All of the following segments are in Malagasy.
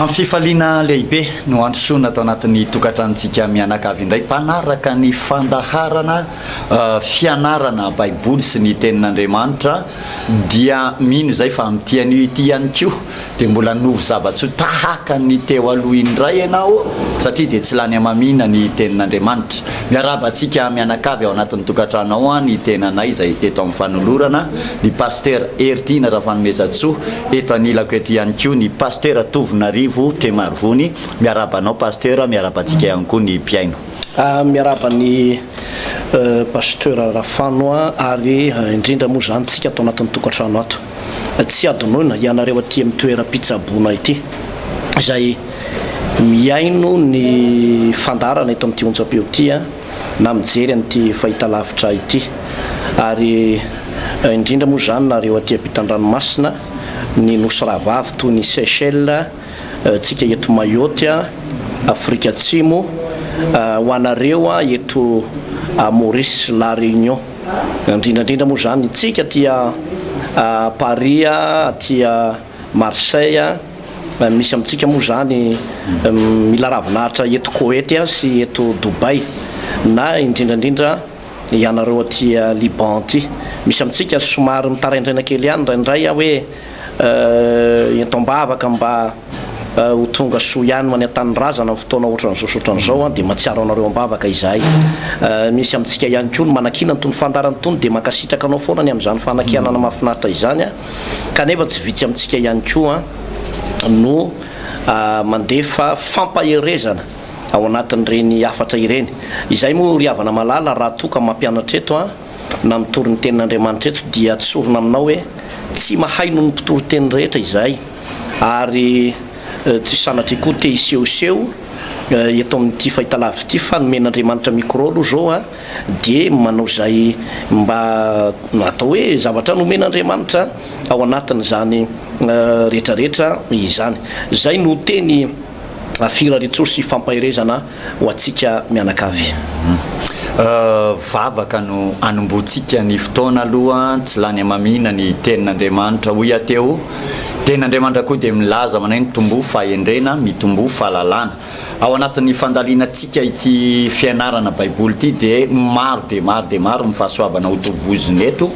Amin'ny fifaliana lehibe no handrosoana ato anatin'ny tokantranontsika mianakavy indray mpanaraka ny fandaharana fianarana baiboly sy ny tenin'Andriamanitra dia mino izay fa amin'ity anio ity ihany koa dia mbola hanovo zava-tsoa tahaka ny teo aloha indray ianao satria dia tsy lany hamamiana ny tenin'Andriamanitra. Miarahaba antsika mianakavy ao anatin'ny tokantrano ao an, ny tenanay izay eto amin'ny fanolorana, ny Pasitera Hery Tiana Rafanomezantsoa, Eto anilako eto ihany koa ny Pasitera Tovonarivo Tremarivony. Miarahaba anao Pasitera, miarahaba antsika ihany koa ny mpihaino. Miarahaba an'i Pasitera Rafano ary indrindra moa izany isika ato anatin'ny tokantrano ato. Tsy hadinoina ianareo aty amin'ny toeram-pitsaboana ity izay mihaino ny fandaharana eto amin'ity onjam-peo ity. na mijery an'ity fahitalavitra ity ary indrindra moa izany na reo aty ampitan-dranomasina ny nosy rahavavy toy ny Seychelles, tsika eto Mayotte, Afrika Atsimo, ho anareo eto Maurice, La Réunion, indrindra indrindra moa izany tsika aty Paris aty. Marseille, misy amintsika moa izany mila ravin'ahitra eto Koety sy eto Dubai na indrindra indrindra ianareo aty Liban aty. Misy amintsika somary mitaraindraina kely ihany indraindray hoe ento am-bavaka mba ho tonga soa ihany ho any an-tanindrazana amin'ny fotoana ohatran'izao sy ohatran'izao dia mahatsiaro anareo am-bavaka izahay. Misy amintsika ihany koa ny manakiana an'itony fandaharana itony dia mankasitraka anao foana ny amin'izany fanakianana mahafinaritra izany. kanefa tsy vitsy amintsika ihany koa no mandefa fampaherezana ao anatin'ireny hafatra ireny. Izay moa ry havana malala raha toa ka mampianatra eto na mitory ny tenin'Andriamanitra eto dia tsorina aminao hoe tsy mahay noho ny mpitory teny rehetra izahay ary tsy sanatria koa te hisehoseho eto amin'ity fahitalavitra ity fa nomen'Andriamanitra micro aloha zao dia manao izay mba atao hoe zavatra nomen'Andriamanitra ao anatin'izany rehetrarehetra izany. Izay no teny firariantsoa sy fampaherezana ho antsika mianakavy. Vavaka no hanombohantsika ny fotoana aloha, tsy lany hamamiana ny tenin'Andriamanitra, hoy aho teo. Ny tenin'Andriamanitra koa dia milaza manao hoe, Mitomboa fahendrena, mitomboa fahalalana. Ao anatin'ny fandalinantsika ity fianarana Baiboly ity dia maro dia maro dia maro ny fahasoavana ho tovozina eto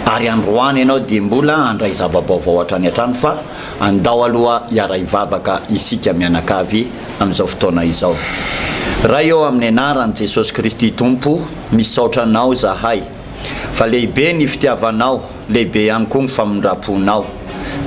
ary androany ianao dia mbola handray zava-baovao hatrany hatrany fa andao aloha hiara-hivavaka isika mianakavy amin'izao fotoana izao. Ray ô amin'ny anaran'i Jesosy Kristy Tompo misaotra anao zahay fa lehibe ny fitiavanao, lehibe ihany koa ny famindram-ponao.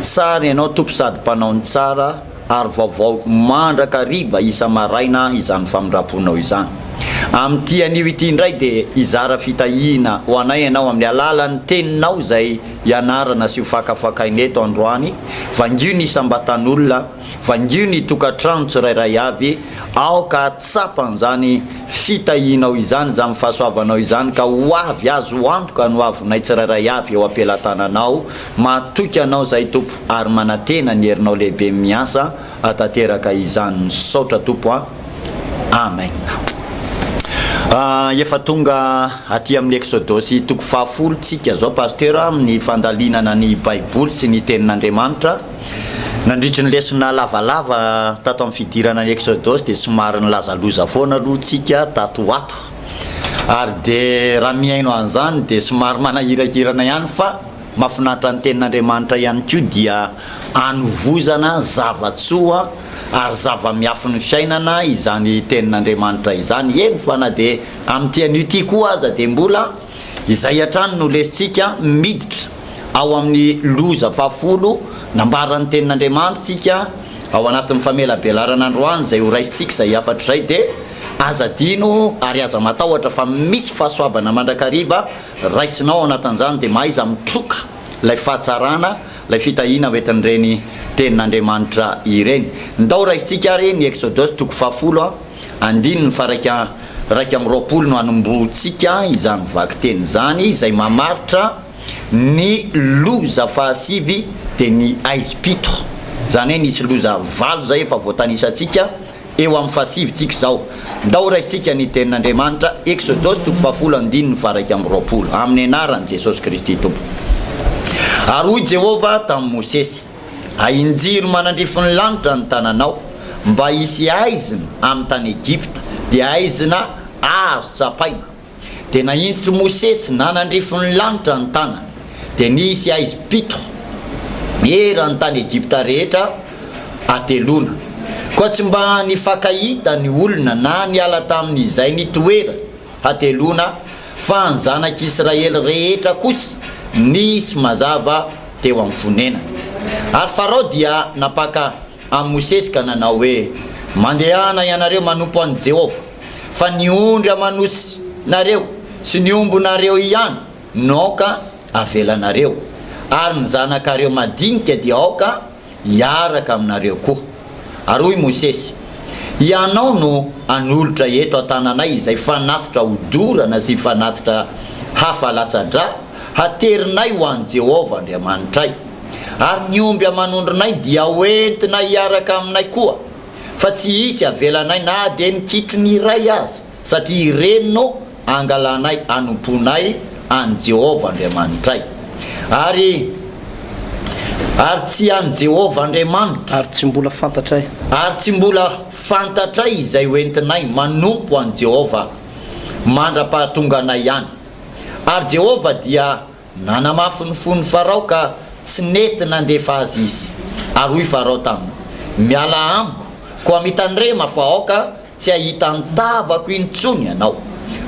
Tsara ianao Tompo sady mpanao ny tsara. ary vaovao mandrakariva isa-maraina izany famindram-ponao izany. Amin'ity anio ity indray dia hizara fitahiana ho anay ianao amin'ny alalan'ny Teninao izay ianarana sy hofakafakaina eto androany, vangio ny isam-batan'olona, vangio ny tokantrano tsirairay avy, aoka hahatsapa an'izany fitahianao izany, izany fahasoavanao izany ka ho avy azo antoka ny hoavinay tsirairay avy eo am-pelatananao, Mahatoky anao zay Tompo ary manatena ny herinao lehibe miasa atateraka izany misaotra Tompo a Amen Efa tonga aty amin'ny Eksodosy toko faha folo tsika zao Pasteur amin'ny fandalinana ny baiboly sy ny tenin'Andriamanitra Nandritry ny lesona lavalava tato amin'ny fidirana ny Eksodosy dia somary nilaza loza foana aloha tsika tato ho ato ary dia raha mihaino an'izany dia somary manahirakirana ihany fa Mafinaritra ny tenin'Andriamanitra ihany koa dia anovozana zava-tsoa ary zava-miafin'ny fiainana izany tenin'Andriamanitra izany, eny fa na dia amin'ity anio ity koa aza dia mbola izay hatrany no lesintsika, miditra ao amin'ny loza fahafolo nambaran'ny tenin'Andriamanitra tsika ao anatin'ny famelabelarana androany izay ho raisintsika izay hafatra izay dia aza adino ary aza matahotra fa misy fahasoavana mandrakariva Raisina ao anatin'izany dia mahaiza mitroka ilay fahatsarana, ilay fitahiana hoentin'ireny Tenin'Andriamanitra ireny. Ndao raisintsika ary ny Exodos toko fahafolo, andininy faharaika raika amby roapolo no hanombohantsika izany vakiteny izany izay mamaritra ny loza fahasivy dia ny aizim-pito. Izany hoe nisy loza valo izay efa voatanisantsika. eo amin'ny fahasivintsika izao. Ndao raisintsika ny Tenin'Andriamanitra, Eksodosy toko fahafolo andininy faha-iraika amby roapolo, Amin'ny anaran'i Jesosy Kristy Tompo. Ary hoy Jehovah tamin'i Mosesy, Ahinjiro manandrifin'ny lanitra ny tananao, mba hisy haizina amin'ny tany Egypta, dia haizina azo tsapaina. Dia nahintotr'i Mosesy nanandrifon'ny lanitra ny tanany, dia nisy haizy pito eran'ny tany Egypta rehetra hateloana. Koa tsy mba nifankahita ny olona na niala tamin'izay nitoerany hateloana, fa ny zanak'Israely rehetra kosa nisy mazava teo amin'ny fonenany. Ary Farao dia nampaka amin'i Mosesy ka nanao hoe, Mandehana ianareo manompo an'i Jehovah, fa ny ondry aman'osinareo sy ny ombinareo ihany no aoka avelanareo, ary ny zanakareo madinika dia aoka hiaraka aminareo koa. Ary hoy Mosesy, Hianao no hanolotra eto an-tananay izay fanatitra hodorana sy fanatitra hafa latsa-dra haterinay ho an'i Jehovah Andriamanitray. ary ny omby aman'ondrinay dia hoentina hiaraka aminay koa, fa tsy hisy avelanay na dia ny kitrony iray aza, satria ireny no angalanay hanompoanay an'i Jehovah Andriamanitray. Ary, ary tsy an'i Jehovah Andriamanitra. Ary tsy mbola fantatray. Ary tsy mbola fantatray izay hoentinay manompo an'i Jehovah mandra-pahatonganay any. Ary Jehovah dia. Nanamafy ny fon'i Farao ka tsy nety nandefa azy izy. Ary hoy Farao taminy, Miala amiko, koa mitandrema fa aoka tsy hahita ny tavako intsony ianao.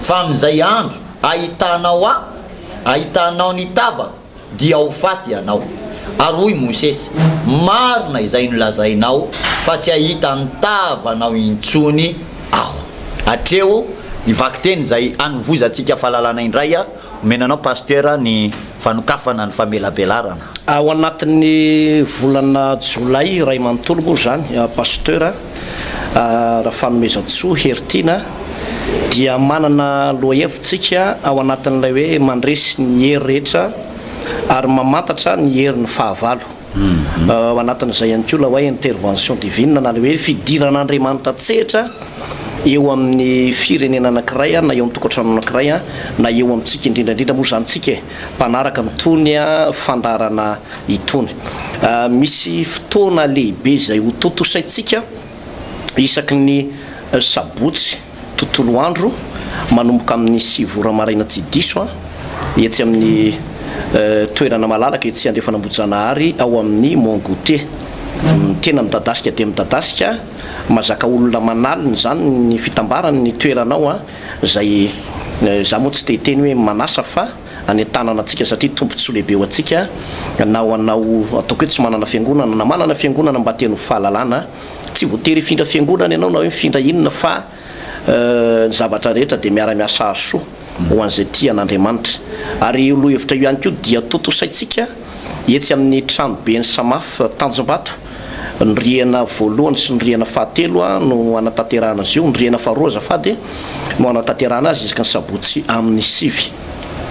Fa amin'izay andro hahitanao ahy, hahitanao ny tavako, dia ho faty ianao. Ary hoy Mosesy, Marina izay nolazainao, fa tsy hahita ny tavanao intsony aho. Hatreo ny vakiteny izay hanovozantsika fahalalana indray. Omena anao Pasteur ny fanokafana ny famelabelarana. Ao anatin'ny volana jolay iray manontolo moa izany Pasteur Rafanomezantsoa Heritiana dia manana lohahevitsika ao anatin'ilay hoe mandresy ny hery rehetra ary mamantatra ny herin'ny fahavalo. Ao anatin'izay ihany koa ilay hoe intervention divine na ilay hoe fidiran'Andriamanitra an-tsehatra eo amin'ny firenena anankiray na eo amin'ny tokantrano anankiray na eo amintsika indrindra indrindra moa izany isika e, mpanaraka an'itony fandaharana itony. Misy fotoana lehibe izay hotontosaintsika isaky ny sabotsy. tontolo andro manomboka amin'ny sivy ora maraina tsy diso an, etsy amin'ny toerana malalaka etsy Andrefan'Ambohijanahary ao amin'ny Mon Goûter. Ny tena midadasika dia midadasika, mazaka olona manalina izany ny fitambaran'ny toerana ao an, izay za moa tsy te hiteny hoe manasa fa. hanentanana antsika satria tombontsoa lehibe ho antsika na ho anao ataoko hoe tsy manana fiangonana na manana fiangonana mba teny ho fahalalana tsy voatery hifindra fiangonana ianao na hoe mifindra inona fa ny zavatra rehetra dia miara miasa hahasoa ho an'izay tia an'Andriamanitra ary io lohevitra io ihany koa dia tontosaintsika etsy amin'ny tranoben'ny samaf tanjombato Ny rihana voalohany sy ny rihana fahatelo no hanatanterahana azy io. Ny rihana faharoa azafady no hanatanterahana azy isaky ny sabotsy amin'ny sivy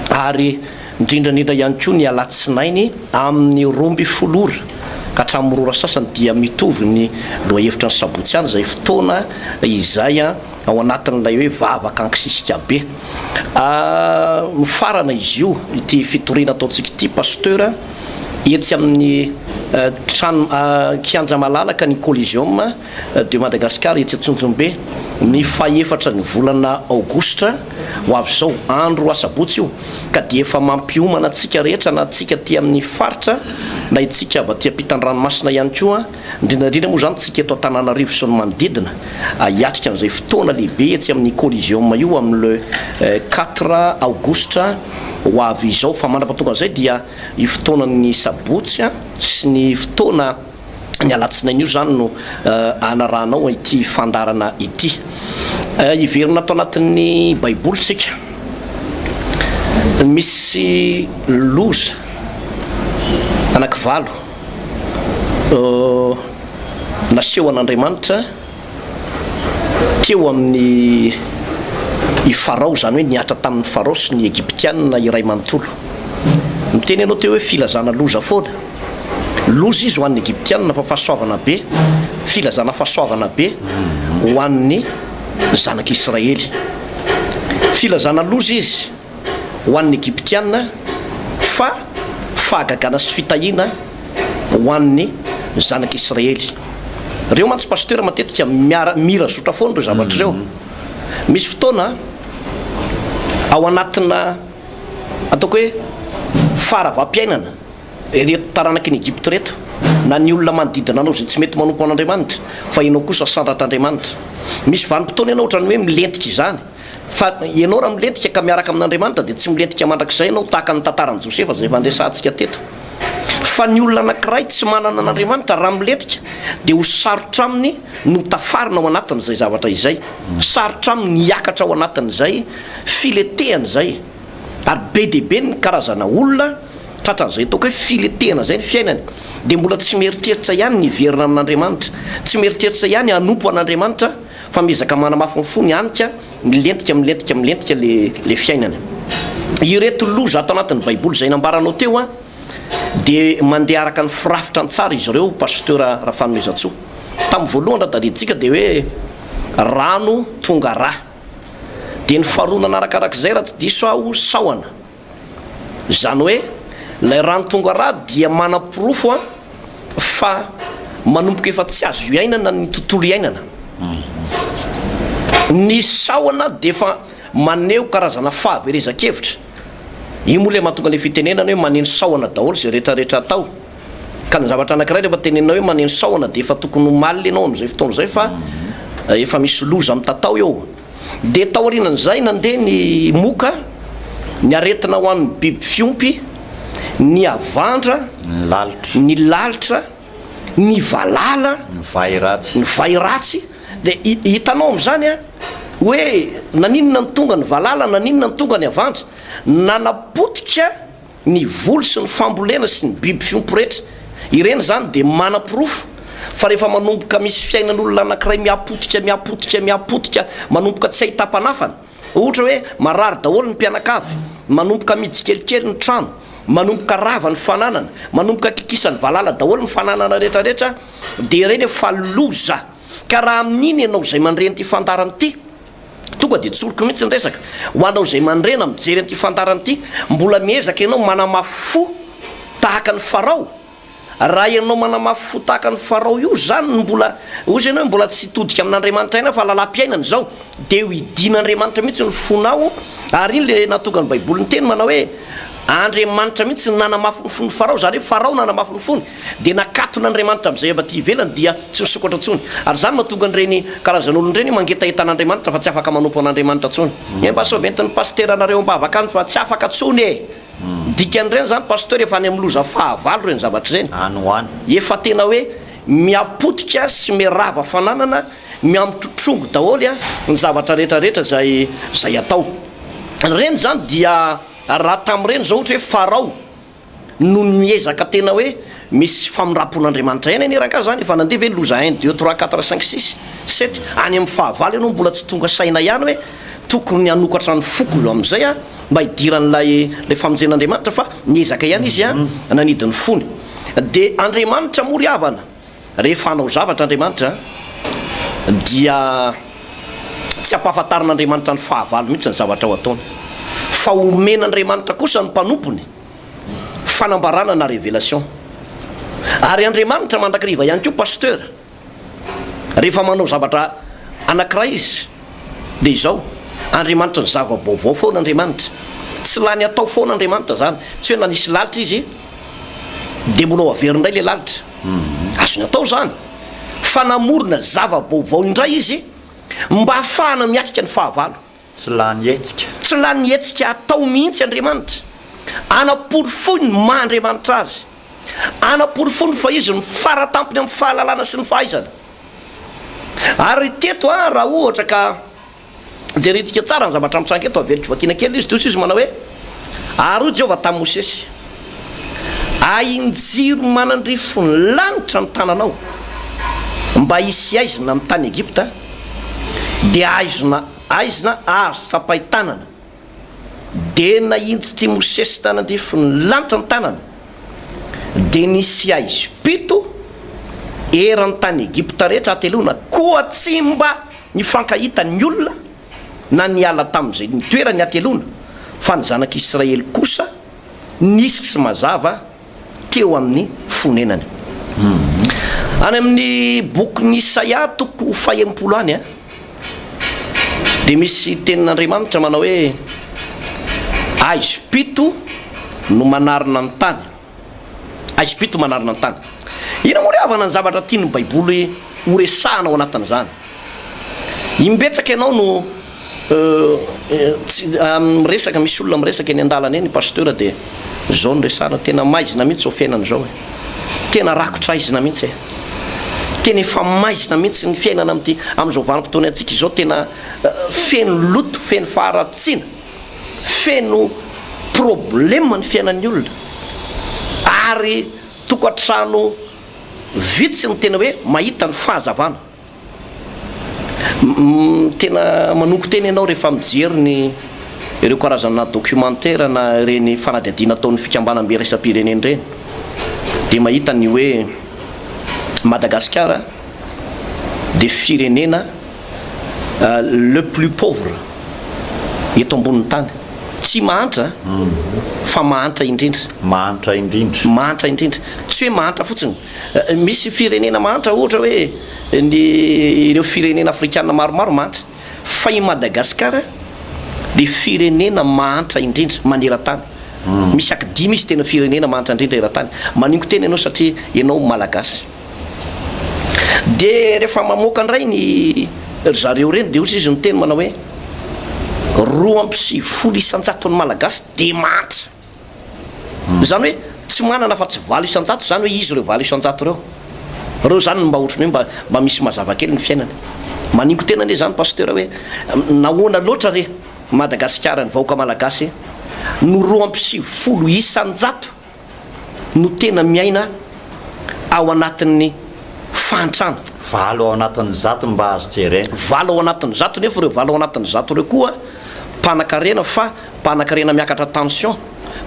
ary indrindra indrindra ihany koa ny alatsinainy amin'ny roa ambin'ny folo ora ka hatramin'ny roa ora sasany dia mitovy ny lohahevitra ny sabotsy ihany izay fotoana izay ao anatin'ilay hoe vavaka ankisisika be. Nofarana izy io ity fitoriana ataontsika ity pasteur. Etsy amin'ny trano kianja malalaka ny Coliseum de Madagascar etsy Antsonjombe, ny fahefatra ny volana aogositra ho avy izao, andro asabotsy io, ka dia efa mampiomana antsika rehetra na antsika aty amin'ny faritra na itsika avy aty am-pitandranomasina ihany koa, Indrindra indrindra moa izany tsika eto Antananarivo sy ny manodidina, hiatrika an'izay fotoana lehibe etsy amin'ny Coliseum io amin'ny le quatre aogositra ho avy izao. Fa mandrapatonga an'izay dia io fotoanan'ny sabotsy sy ny fotoana ny alatsinainy io izany no anarahanao ity fandaharana ity. Hiverina ato anatin'ny baiboly tsika. Misy loza anaky valo. nasehon'Andriamanitra teo amin'ny i Farao, izany hoe nihatra tamin'i Farao sy ny Egyptiana iray manontolo. Miteny ianao teo hoe filazana loza foana. Loza izy ho an'ny Egyptiana fa fahasoavana be, filazana fahasoavana be ho an'ny zanak'Israely. Filazana loza izy. ho an'ny Egyptiana fa fahagagana sy fitahiana ho an'ny zanak'i Israely. Reo mantsy Pasteur matetika miara mira zotra foana reo zavatra reo. Misy fotoana ao anatina ataoko hoe faharavam-piainana ireto taranaky ny Egypte reto na ny olona manodidina anao zay tsy mety manompo an'Andriamanitra fa enao kosa sandratr'Andriamanitra. Misy vanim-potoana enao otrany hoe milentika izany. Fa ianao raha milentika ka miaraka amin'Andriamanitra dia tsy milentika mandrakizay ianao, tahaka ny tantaran'i Josefa izay efa andresantsika teto. Fa ny olona anankiray tsy manana an'Andriamanitra raha milentika dia ho sarotra aminy ny ho tafarina ao anatin'izay zavatra izay, sarotra aminy ny hiakatra ao anatin'izay filetehana izay. Ary be dia be ny karazana olona tratran'izay ataoko hoe filetehana izay ny fiainany, dia mbola tsy mieritreritra ihany ny hiverina amin'Andriamanitra, tsy mieritreritra ihany hanompo an'Andriamanitra, Fa miezaka manamafy ny fony anika, milentika, milentika, milentika le le fiainana. Ireto loza ato anatin'ny baiboly izay nambaranao teo an, de mandeha araka ny firafitra an-tsary izy ireo Pasteur Rafanoezantsoa. Tamin'ny voalohany raha tadidintsika de hoe rano tonga rà. De ny faharoa nanarakarak'izay raha tsy diso aho sahona. Izany hoe ilay rano tonga ra dia manaporofo fa manomboka efa tsy azo iainana ny tontolo iainana. Ny sahona dia efa maneho karazana fahaverezan-kevitra. Io moa ilay mahatonga ilay fitenenana hoe maneno sahona daholo izay retraretra atao. Ka ny zavatra anankiray rehefa tenenina hoe maneno sahona dia efa tokony omaly ianao amin'izay fotoana izay fa efa misy loza mitatao eo. dia taorian'izay nandeha ny moka, ny aretina ho an'ny biby fiompy, ny havandra, ny lalitra, ny valala, ny vay ratsy, dia hitanao amin'izany an, hoe naninona no tonga ny valala, naninona no tonga ny havandra, nanapotika, Ny voly sy ny fambolena sy ny biby fiompy rehetra, ireny izany dia manaporofo fa rehefa manomboka misy fiainan'olona anankiray mihapotika, mihapotika, mihapotika, manomboka tsy hahita mpanafana, ohatra hoe marary daholo ny mpianakavy, manomboka mihidy tsikelikely ny trano, manomboka rava ny fananana, manomboka kikisan'ny valala daholo ny fananana rehetrarehetra, dia ireny efa loza. Ka raha amin'iny ianao izay mandre an'ity fandaharana ity, Tonga dia tsoriko mihitsy ny resaka. Ho anao izay mandrena mijery an'ity fandarana ity, mbola miezaka ianao manamafy fo tahaka an'i Farao? Raha ianao manamafy fo tahaka an'i Farao io, izany no mbola, hoy izany hoe mbola tsy hitodika amin'Andriamanitra ihany aho fa lalam-piainana izao, dia ho hidian'Andriamanitra mihitsy ny fonao, ary iny ilay nahatonga ny Baiboly niteny manao hoe, Andriamanitra mihitsy no nanamafy ny fon'i Farao, izany hoe Farao nanamafy ny fony. dia nakatona Andriamanitra amin'izay avy aty ivelany dia tsy misokatra intsony, ary izany mahatonga an'ireny karazan'olona ireny mangetaheta an'Andriamanitra fa tsy afaka manompo an'Andriamanitra intsony. Ee mba soaventin'ny Pasitera anareo am-bavaka any fa tsy afaka intsony ee. Ny dikan'ireny izany Pasteur efa any amin'ny loza fahavalo ireny zavatra ireny. Any ho any. Efa tena hoe mihapotika sy mirava fananana, mihamotrotrongo daholo ny zavatra rehetra rehetra izay izay atao. Ireny izany dia raha tamin'ireny izao ohatra hoe Farao Noho ny miezaka tena hoe misy famindrampon'Andriamanitra ihany anie rangahy zany e, fa nandeha ve ny loza un, deux, trois, quatre, cinq, six, sept, any amin'ny fahavalo ianao mbola tsy tonga saina ihany hoe tokony hanokatra ny foko eo amin'izay aho mba hidiran'ilay ilay famonjen'Andriamanitra fa niezaka ihany izy an, nanidy ny fony. Dia Andriamanitra moa ry havana. Rehefa hanao zavatra Andriamanitra dia tsy ampahafantarin'Andriamanitra ny fahavalo mihitsy ny zavatra ho ataony fa omena Andriamanitra kosa ny mpanompony fanambarana na revelation. Ary Andriamanitra mandrakariva ihany koa Pasteur rehefa manao zavatra anakiray izy. Dia izao, Andriamanitry ny zava-baovao foana Andriamanitra. Tsy lany atao foana Andriamanitra izany. Tsy hoe nanisy lalitra Izy, dia mbola ho averiny indray ilay lalitra. Azony atao izany. Fa namorona zava-baovao indray Izy mba hahafahana miatrika ny fahavalo. Tsy lany hetsika. Tsy lany hetsika atao mihitsy Andriamanitra. Anaporofoiny ny maha Andriamanitra Azy. Anaporofoiny fa Izy no fara tampony amin'ny fahalalana sy ny fahaizana. Ary teto a, raha ohatra ka jerentsika tsara ny zavatra mitranga eto, averiko vakiana kely izy, tohizo izy manao hoe, Ary hoy Jehovah tamin'i Mosesy, Ahin-jiro manandrify ny lanitra ny tananao mba hisy haizina amin'ny tany Egypta, dia haizina, haizina azo tsapain-tanana. Dia nahintsitr' i Mosesy tany an-drifin' ny lanitra ny tanany, dia nisy haizo pito eran' ny tany Egypta rehetra hateloana, koa tsy mba nifankahita ny olona na niala tamin' izay nitoerany hateloana, fa ny Zanak' Israely kosa nisy tsy mazava, teo amin'ny fonenany. Any amin'ny bokin'i Isaia toko fahenimpolo any dia misy tenin'Andriamanitra manao hoe, Aizo pito no manarina ny tany. Aizo pito manarina ny tany. Inona moa ry havana ny zavatra tian'ny Baiboly horesahana ao anatin'izany? Imbetsaka ianao no miresaka, misy olona miresaka eny an-dalana eny Pasteur dia izao no resahana, tena maizina mihintsy izao fiainana izao e! Tena rakotra aizina mihintsy e! Tena efa maizina mihintsy ny fiainana amin'ity, amin'izao vanim-potoana iantsika izao, tena feno loto, feno faharatsiana, feno problème ny fiainan'ny olona ary tokantrano vitsy no tena hoe mahita ny fahazavana. Tena manongo tena ianao rehefa mijery ny ireo karazana documentaire na ireny fanadihadiana ataon'ny fikambanam-be iraisam-pirenena ireny dia mahita ny hoe Madagasikara dia firenena le plus pauvre eto ambonin'ny tany. Tsy mahantra fa mahantra indrindra. Mahantra indrindra. Mahantra indrindra. Tsy hoe mahantra fotsiny. Misy firenena mahantra ohatra hoe ny ireo firenena afrikana maromaro mahantra fa i Madagasikara dia firenena mahantra indrindra maneran-tany. Misy ak dimy izy tena firenena mahantra indrindra eran-tany. Manongo tena ianao satria ianao Malagasy. Dia rehefa mamoaka indray ny ry zareo ireny dia hozy izy miteny manao hoe roa amby sivifolo isan-jaton'ny Malagasy dia mahantra. Izany hoe tsy manana afa tsy valo isan-jato izany hoe izy ireo valo isan-jato ireo. Ireo izany no mba ohatran'ny hoe mba mba misy mazava kely ny fiainany. Manimbo tena anie izany Pasteur hoe nahoana loatra re Madagasikara, ny vahoaka Malagasy no roa amby sivifolo isan-jato no tena miaina ao anatin'ny fahantrana. Valo ao anatin'ny zato no mba azo jerena. Valo ao anatin'ny zato nefa ireo valo ao anatin'ny zato ireo koa mpanakarena fa mpanakarena miakatra tension,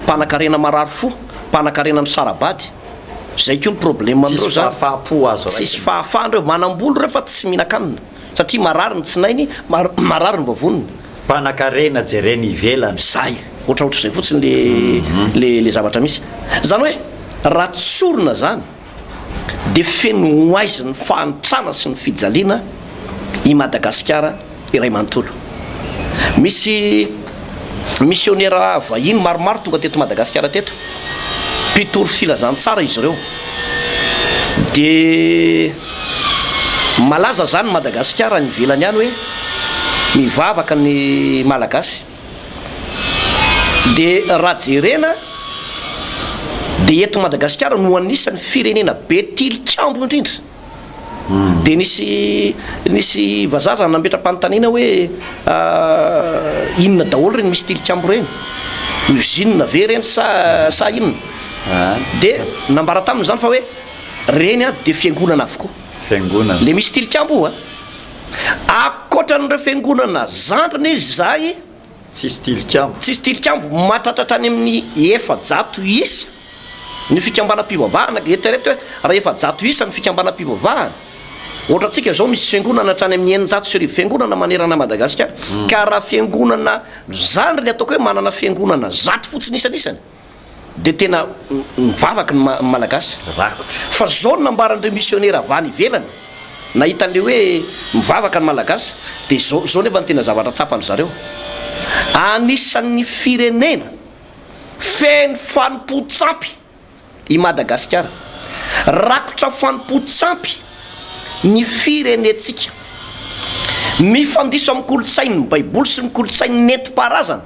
mpanakarena marary fo, mpanakarena misara-bady. Zay koa ny probleme amindreo zany. Tsisy fahafahampo azo raisina. Tsisy fahafahana reo. Manambola ireo fa tsy mihinan-kanina. Satria marary ny tsinainy, marary ny vavoniny. Mpanakarena jerena ivelany. Zay. Ohatraohatrizay fotsiny le zavatra misy. Zany hoe raha tsorina zany. dia feno ho aizin'ny fahantrana sy ny fijaliana i Madagasikara iray manontolo. Misy misionera vahiny maromaro tonga teto Madagasikara teto, mpitory filazantsara izy ireo. Dia malaza izany Madagasikara any ivelany any hoe mivavaka ny Malagasy. Dia raha jerena dia eto Madagasikara no anisan'ny firenena be tilikambo indrindra. Dia nisy nisy vazaha zany nametra-panontaniana hoe inona daholo ireny misy tilikambo ireny? Usine ve ireny sa sa inona? Dia nambara taminy izany fa hoe ireny dia fiangonana avokoa. Fiangonana. Ilay misy tilikambo io a! Ankoatran'ireo fiangonana zandriny izy izay, Tsisy tilikambo. tsisy tilikambo, mahatratra hatrany amin'ny efajato isa ny fikambanam-pivavahana. Eritrereto hoe raha efajato isa ny fikambanam-pivavahana, ohatra antsika izao misy fiangonana hatrany amin'ny eninjato sy arivo fiangonana manerana an'i Madagasikara, ka raha fiangonana zandriny ataoko hoe manana fiangonana zato fotsiny isanisany, dia tena mivavaka ny Malagasy rakotra. Fa zao no nambaran'ireo misionera avy any ivelany nahita an'ilay hoe mivavaka ny Malagasy dia izao izao nefa ny tena zavatra tsapan-dry zareo, anisan'ny firenena feno fanompoan-tsampy i Madagasikara. Rakotra fanompoan-tsampy ny firenentsika. Mifandiso amin'ny kolontsain'ny baiboly sy ny kolontsainy nentim-paharazana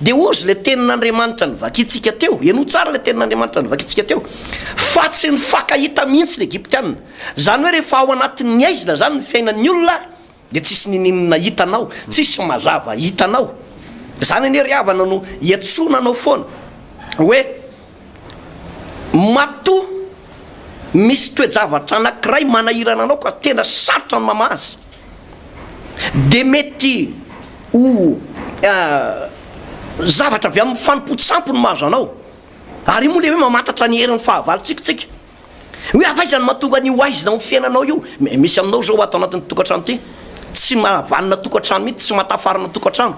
Dia hozy ilay tenin'Andriamanitra nivakintsika teo, henoy tsara ilay tenin'Andriamanitra nivakintsika teo, fa tsy nifankahita mihitsy ny Egyptiana. Izany hoe rehefa ao anatin'ny aizina izany ny fiainan'ny olona dia tsisy ninininona hitanao, tsisy mazava hitanao. Izany anie ry havana no iantsoana anao foana hoe matoa misy toe-javatra anankiray manahirana anao ka tena sarotra ny mamaha azy. dia mety ho zavatra avy amin'ny fanompoan-tsampy no mahazo anao, ary io moa ilay hoe mamantatra ny herin'ny fahavalontsika isika. Hoe avy aiza no mahatonga an'io haizina ao amin'ny fiainanao io? Misy aminao izao ato anatin'ity tokantrano ity, tsy mahavanona tokantrano mihitsy, tsy mahatafarana tokantrano.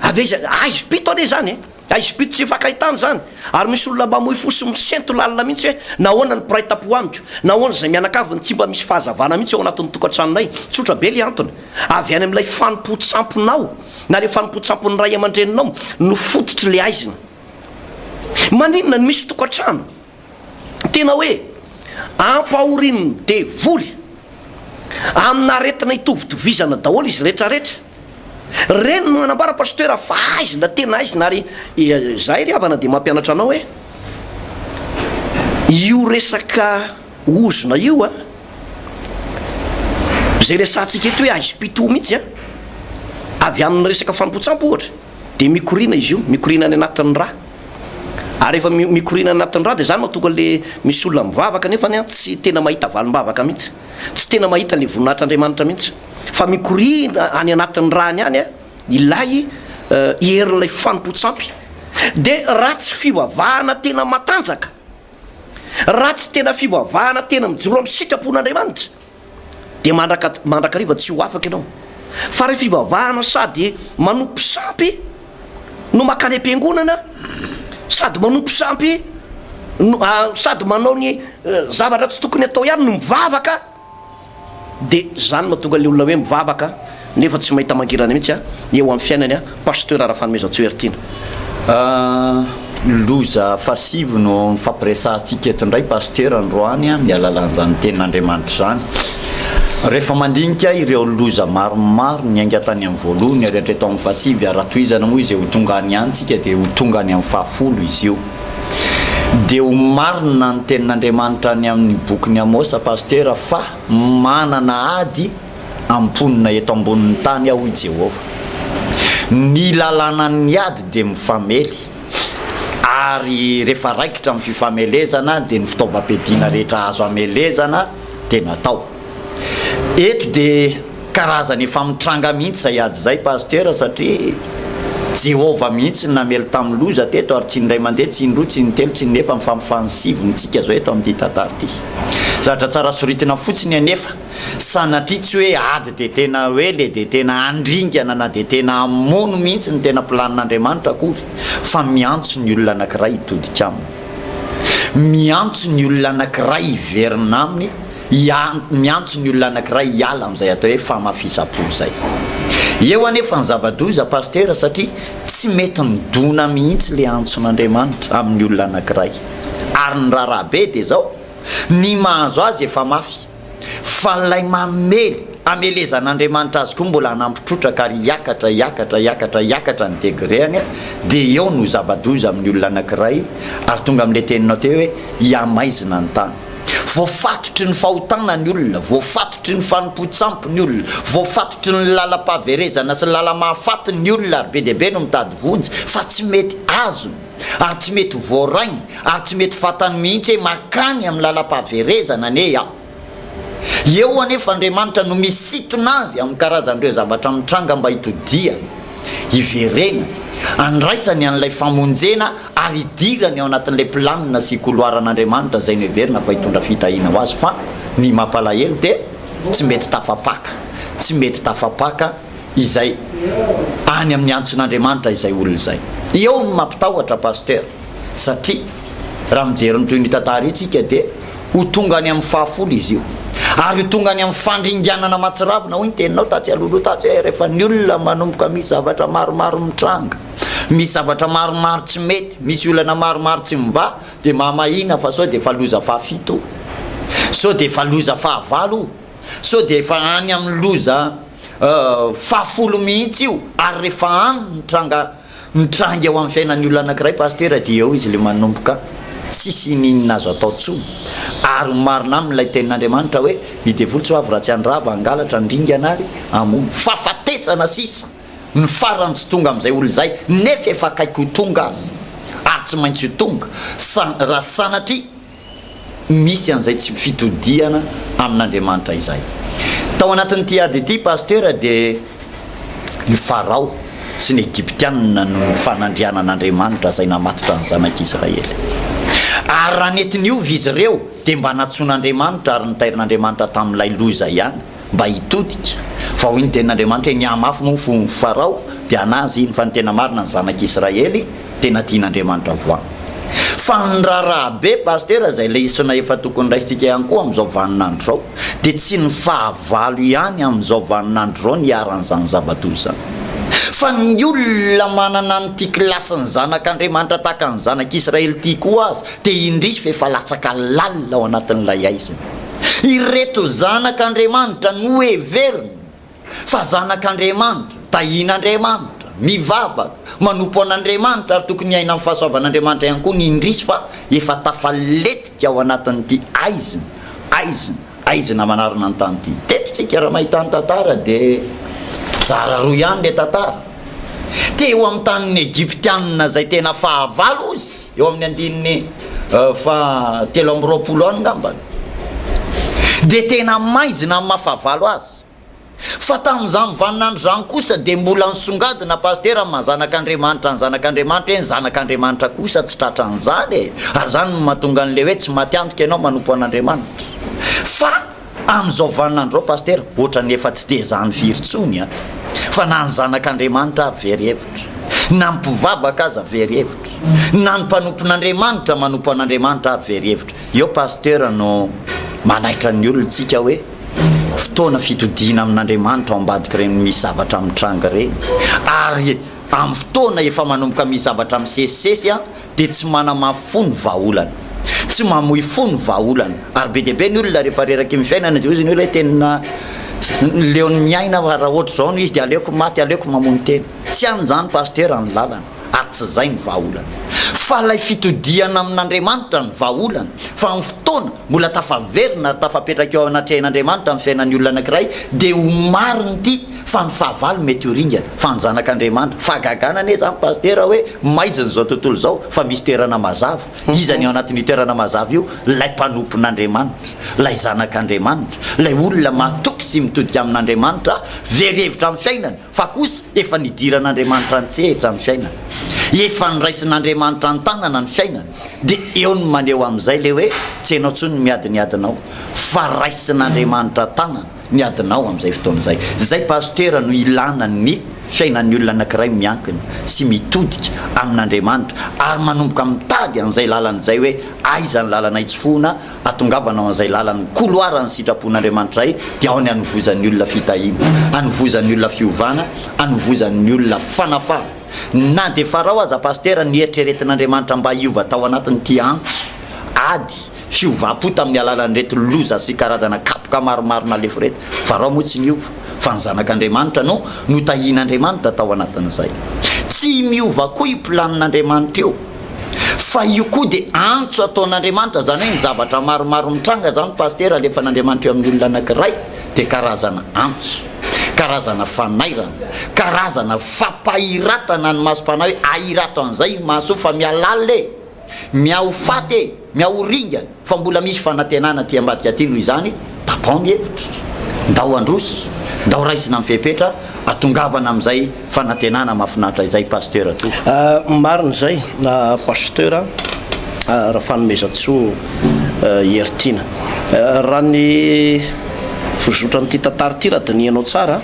Avy aiza? Haizim-pito anie izany e! Aizim-pito tsy hifankahitana izany ary misy olona mamoy fo sy misento lalina mihitsy hoe nahoana ny mpiray tampo amiko, nahoana izay mianakavy no tsy mba misy fahazavana mihitsy ao anatin'ny tokantranonay. Tsotra be ilay antony, avy any amin'ilay fanompoan-tsamponao na ilay fanompoan-tsampon'ny ray aman-dreninao no fototr'ilay haizina. Maninona no misy tokantrano? Tena hoe ampahorian'ny devoly amina aretina itovitovizana daholo izy retraretra. Reny no manambara Pasitera fa aizina tena aizina ary izahay ry havana dia mampianatra anao hoe io resaka ozona io a, izay resahantsika eto hoe aizim-pito mihitsy a, avy amin'ny resaka fampotsampo ohatra dia mikoriana izy io, mikoriana any anatin'ny rà. Ary rehefa mikoriana any anatin'ny rà dia izany no mahatonga an'ilay misy olona mivavaka nefany an tsy tena mahita valim-bavaka mihitsy. Tsy tena mahita ilay voninahitr'Andriamanitra mihitsy. Fa mikoriana any anatin'ny ràny any an ilay herin'ilay fanompoan-tsampy. Dia raha tsy fivavahana tena matanjaka, raha tsy tena fivavahana tena mijoro amin'ny sitrapon'Andriamanitra, dia mandraka mandrakariva tsy ho afaka ianao. Fa raha fivavahana sady manompo sampy no makany am-piangonana, sady manompo sampy no ah, sady manao ny eh, zavatra tsy tokony atao ihany no mivavaka, dia izany mahatonga ilay olona hoe mivavaka nefa tsy mahita mangirana mihitsy a eo amin'ny fiainany a Pasteur Rafanomezantsoa Heritiana a. Loza fahasivy no nifampiresahantsika eto indray Pasteur androany amin'ny alalan'izany tenin'Andriamanitra izany. Rehefa mandinika ireo loza maromaro niainga tany amin'ny voalohany ary hatreto amin'ny fahasivy ary raha tohizana moa izay ho tonga any any tsika dia ho tonga any amin'ny fahafolo izy io. Dia ho marina ny tenin'Andriamanitra any amin'ny bokin'i Amosa Pasteur fa manana ady amponina eto ambonin'ny tany aho, hoy Jehovah. Ny lalànan'ny ady dia mifamely, ary rehefa raikitra ny fifamelezana, dia ny fitaovam-piadiana rehetra azo amelezana dia natao. Eto dia karazana efa mitranga mihitsy izay ady izay, Pasitera, satria Jehovah mihitsy no namely tamin'ny loza teto, ary tsy ny iray mandeha, tsy ny roa, tsy ny telo, tsy ny efa, fa mifanisivy ny tsika izao eto amin'ity tantara ity. Zavatra tsara soritina fotsiny anefa, Sanatria tsy hoe ady dia tena hoe le dia tena handringana na dia tena hamono mihitsy ny tena planin'Andriamanitra akory fa miantso ny olona anankiray hitodika aminy. Miantso ny olona anankiray hiverina aminy, miantso ny olona anankiray hiala amin'izay atao hoe famafisam-po izay. Eo anefa ny zava-doza Pasitera satria tsy mety midona mihitsy le antson'Andriamanitra amin'ny olona anankiray. Ary ny raharaha be dia izao, ny mahazo azy efa mafy. fa ilay mamely hamelezan'Andriamanitra azy koa mbola hanampy trotraka ary hiakatra hiakatra hiakatra hiakatra ny degreany dia eo no zava-doza amin'ny olona anankiray ary tonga amin'ilay teninao teo hoe hiamaizina ny tany voafatotry ny fahotana ny olona voafatotry ny fanompoan-tsampy ny olona voafatotry ny lalam-pahaverezana sy ny lalam-mahafaty ny olona ary be dia be no mitady vonjy fa tsy mety azony ary tsy mety ho voarainy ary tsy mety fantany mihitsy hoe makany amin'ny lalam-pahaverezana anie aho. Eo anefa Andriamanitra no misintona azy amin'ny karazan'ireo zavatra mitranga mba hitodihany, hiverenany, handraisany an'ilay famonjena ary hidirany ao anatin'ilay planina sy koloaran'Andriamanitra izay noheverina fa hitondra fitahiana ho azy fa ny mampalahelo dia tsy mety tafapaka, tsy mety tafapaka. izay any amin'ny antson'Andriamanitra izay olona izay. Eo no mampitahotra Pasteur satria raha mijery ny toy ny tantara io tsika dia ho tonga any amin'ny fahafolo izy io. Ary ho tonga any amin'ny fandringanana mahatsiravina hoy ny teninao tatsy alohaloha tatsy hoe rehefa ny olona manomboka misy zavatra maromaro mitranga, misy zavatra maromaro tsy mety, misy olana maromaro tsy mivaha dia mahamahina fa sao dia efa loza fahafito o! Sao dia efa loza fahavalo o! Sao dia efa any amin'ny loza fahafolo mihitsy io ary rehefa any ny tranga mitranga eo amin'ny fiainan'ny olona anankiray Pasitera dia eo izy ilay manomboka tsisy inininina azo atao intsony ary ny marina aminy ilay tenin'Andriamanitra hoe ny devoly tsy ho avy raha tsy handrava, hangalatra, handringana ary hamono. Fahafatesana sisa no farany tsy tonga amin'izay olona izay nefa efa akaiky ho tonga aza ary tsy maintsy ho tonga raha sanatria misy an'izay tsy fitodihana amin'Andriamanitra izay. Tao anatin'ity ady ity Pasitera dia i Farao sy ny Egyptianina no fanandriana an'Andriamanitra izay namatotra ny zanak'i Israely. Ary raha nety niova izy ireo dia mba nantsoin'Andriamanitra ary nitairin'Andriamanitra tamin'ilay loza ihany. mba hitodika, fa hoy ny tenin'Andriamanitra hoe, Ny ahy mafy moa fo ny Farao, dia hanahy azy iny, fa ny tena marina ny zanak'i Israely, tena tian'Andriamanitra voa. Fa ny raharaha be Pasitera, izay lesona efa tokony raisintsika ihany koa amin'izao vanin'andro izao, dia tsy ny fahavalo ihany amin'izao vanin'andro izao no iharan'izany zava-doza izany, fa ny olona manana an'ity kilasin'ny zanak'Andriamanitra tahaka ny zanak'i Israely ity koa aza dia indrisy fa efa latsaka lalina ao anatin'ilay haizina. Ireto zanak' Andriamanitra noheveriny fa zanak' Andriamanitra, tahin' Andriamanitra, mivavaka, manompo an' Andriamanitra ary tokony hiaina amin'ny fahasoavan' Andriamanitra ihany koa ny indrisy fa efa tafaletika ao anatin'ity aizina, aizina, aizina manarona ny tany ity. Teto tsika raha mahita ny tantara dia zara roa ihany ilay tantara. Teo amin'ny tanin'ny Egyptianina izay tena fahavalo izy, eo amin'ny andininy fahatelo amby roapolo any ngamba, dia tena maizina amin'ny maha fahavalo azy. Fa tamin'izany vaninandro izany kosa dia mbola nisongadina Pasitera amin'ny maha zanak'Andriamanitra ny zanak'Andriamanitra eny, zanak'Andriamanitra kosa tsy tratran'izany e! Ary izany no mahatonga an'ilay hoe tsy matiantoka ianao manompo an'Andriamanitra. Fa. Amin'izao vaninandro izao Pasitera, ohatran'ny efa tsy dia izany firy intsony an! Fa na ny zanak'Andriamanitra ary very hevitra, na ny mpivavaka aza very hevitra, na ny mpanompon'Andriamanitra manompo an'Andriamanitra ary very hevitra. Eo Pasitera no manaitra ny olontsika hoe fotoana fitodiana amin'Andriamanitra ao ambadik'ireny misy zavatra mitranga ireny, ary amin'ny fotoana efa manomboka misy zavatra misesisesy an! dia tsy manamafy fo ny vahaolana, tsy mamoy fo ny vahaolana, ary be dia be ny olona rehefa reraky ny fiainana dia hoy izy ny olona hoe tena leon'ny miaina fa raha ohatr'izao no izy dia aleoko maty, aleoko mamono tena, tsy any izany Pasitera ny lalana ary tsy izay ny vahaolana fa ilay fitodihana amin'Andriamanitra no vahaolana fa amin'ny fotoana mbola tafaverina ary tafapetraka eo anatrehan'Andriamanitra amin'ny fiainan'ny olona anankiray dia ho marina ity Fa ny fahavalo mety ho ringana fa ny zanak' Andriamanitra. Fahagagana anie zany Pasitera hoe maizina izao tontolo izao fa misy toerana mazava. Iza ny ao anatin'io toerana mazava io? Ilay mpanompon' Andriamanitra, ilay zanak' Andriamanitra, ilay olona mahatoky sy mitodika amin' Andriamanitra very hevitra amin'ny fiainany fa kosa efa nidiran' Andriamanitra an-tsehatra ny fiainany. Efa niraisin' Andriamanitra an-tanana ny fiainany dia eo ny maneho amin'izay le hoe tsy enao tsony ny miadiniadinao fa raisin' Andriamanitra an-tanana. ny adinao amin'izay fotoana izay. Izay Pasitera no ilana ny fiainan'ny olona anankiray miankina sy mitodika amin'Andriamanitra ary manomboka mitady an'izay lalana izay hoe aiza ny lalana itsofohina atongavana ao an'izay lalan'ny koloaran'ny sitrapon'Andriamanitra'ay dia ao ny anovozan'ny olona fitahiana, anovozan'ny olona fiovana, anovozan'ny olona fanafana. Na dia farao aza Pasitera ny eritreretin'Andriamanitra mba hiova tao anatin'ity antso ady. Hiovam-po tamin'ny alalan'ireto loza sy karazana kapoka maromaro nalefo ireto. Farao moa tsy niova, fa ny Zanak'Andriamanitra no notahian'Andriamanitra tao anatin'izay. Tsy miova koa io planin'Andriamanitra io, fa io koa dia antso ataon'Andriamanitra, izany hoe ny zavatra maromaro mitranga izany Pasitera alefan'Andriamanitra eo amin'ny olona anankiray dia karazana antso, karazana fanairana, karazana fampahiratana ny masom-panahy hoe ahirato an'izay io maso io fa mihalala e! Mia ho faty e! Mia ho ringa fa mbola misy fanantenana aty ambadika aty noho izany tapao ny hevitra. Ndao handroso, ndao raisina ny fepetra atongavana amin'izay fanantenana mahafinaritra izay Pasteur toa. Marina izay Pasteur Rafanomezantsoa Heritiana. Raha ny fizotran'ity tantara ity raha dinihanao tsara,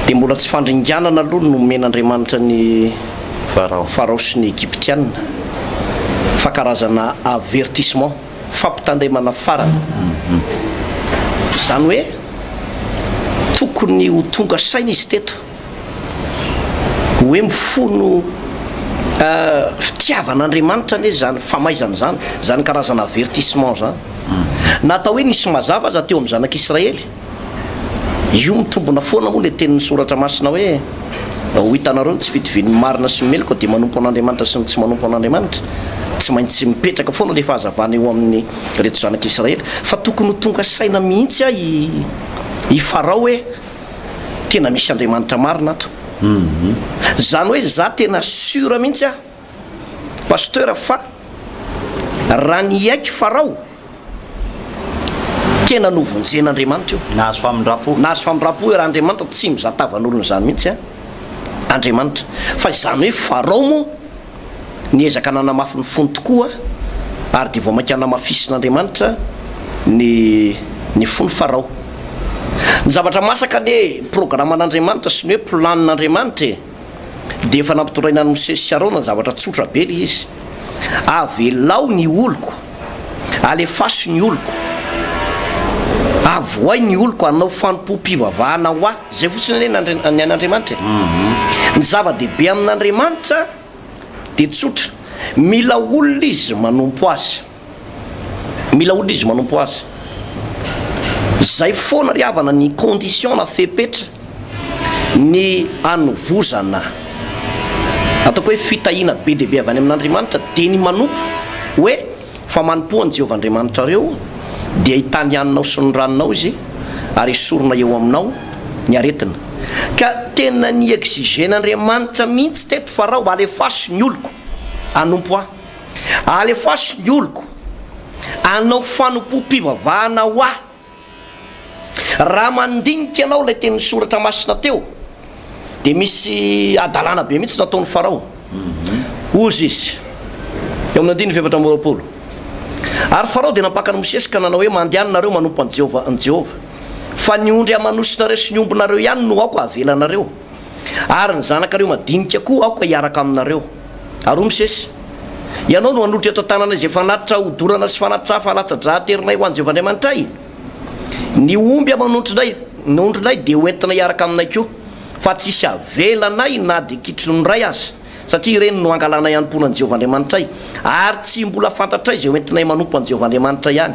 Dia mbola tsy fandringanana aloha no nomen'Andriamanitra an'i Farao sy ny Egyptiana, fa karazana avertissement, fampitandremana farany. Izany hoe tokony ho tonga saina izy teto, hoe mifono fitiavan'Andriamanitra anie izany famaizana izany, izany karazana avertissement izany. Na atao hoe nisy mazava aza teo amin'ny zanak'Israely, Io mitombina foana moa ilay tenin'ny Soratra Masina hoe, Ho hitanareo ny tsy fitovian'ny marina sy ny meloka dia manompo an'Andriamanitra sy ny tsy manompo an'Andriamanitra. Tsy maintsy mipetraka foana ilay fahazavana eo amin'ireto zanak'i Israely. Fa tokony ho tonga saina mihitsy aho i Farao hoe, Tena misy Andriamanitra marina ato. Izany hoe izaho tena sûr mihitsy aho. Pasteur fa raha ny hiaiky Farao tena novonjen'Andriamanitra io. Nahazo famindrampo. Nahazo famindrampo hoe raha Andriamanitra tsy mizaha tavan'olona izany mihitsy an Andriamanitra. Fa izany hoe Farao moa niezaka nanamafy ny fony tokoa ary dia vao mainka namafisin'Andriamanitra ny ny fon'i Farao. Ny zavatra masaka anie programan'Andriamanitra sy ny hoe plan'Andriamanitra e. dia efa nampitondraina an'i Mosesy sy Arona ny zavatra tsotra be ilay izy, Avelao ny oloko, alefaso ny oloko, avohay ny oloko hanao fanompoam-pivavahana ho Ahy. Izay fotsiny anie ny Andri- ny an'Andriamanitra e. Ny zava-dehibe amin'Andriamanitra dia tsotra, mila olona izy manompo Azy. Mila olona izy manompo azy. Zay foana ry havana ny condition na fepetra ny hanovozana ataoko hoe fitahiana be dia be avy any amin'Andriamanitra dia ny manompo hoe fa manompoa an'i Jehovah Andriamanitrareo dia hitany haninao sy ny ranonao izy ary hesorina eo aminao ny aretina. Ka tena ni-exiger-n'Andriamanitra mihitsy teto fa r'aho alefaso ny oloko hanompo ahy. Alefaso ny oloko hanao fanompoam-pivavahana ho Ahy. Raha mandinika ianao ilay tenin'ny Soratra Masina teo, dia misy hadalana be mihitsy nataon'i Farao. Hozy izy, eo amin'ny andininy fahefatra amby roapolo, Ary Farao dia nampaka an'i Mosesy ka nanao hoe, Mandehana nareo manompo an'i Jehovah, an'i Jehovah, fa ny ondry aman'osinareo sy ny ombinareo ihany no aoka havelanareo. Ary ny zanakareo madinika koa aoka hiaraka aminareo. Ary hoy Mosesy, Ianao no hanolotra eto an-tananay izay fanatitra hodorana sy fanatitra hafa alatsa-drà aterinay ho an'i Jehovah Andriamanitray. Ny omby aman'ondrinay na ondrinay dia hoentina hiaraka aminay koa, fa tsy hisy havela anay na dia kitro ny iray aza, satria ireny no hangalanay hanompoana an'i Jehovah Andriamanitray, ary tsy mbola fantatray izay hoentinay manompo an'i Jehovah Andriamanitray any.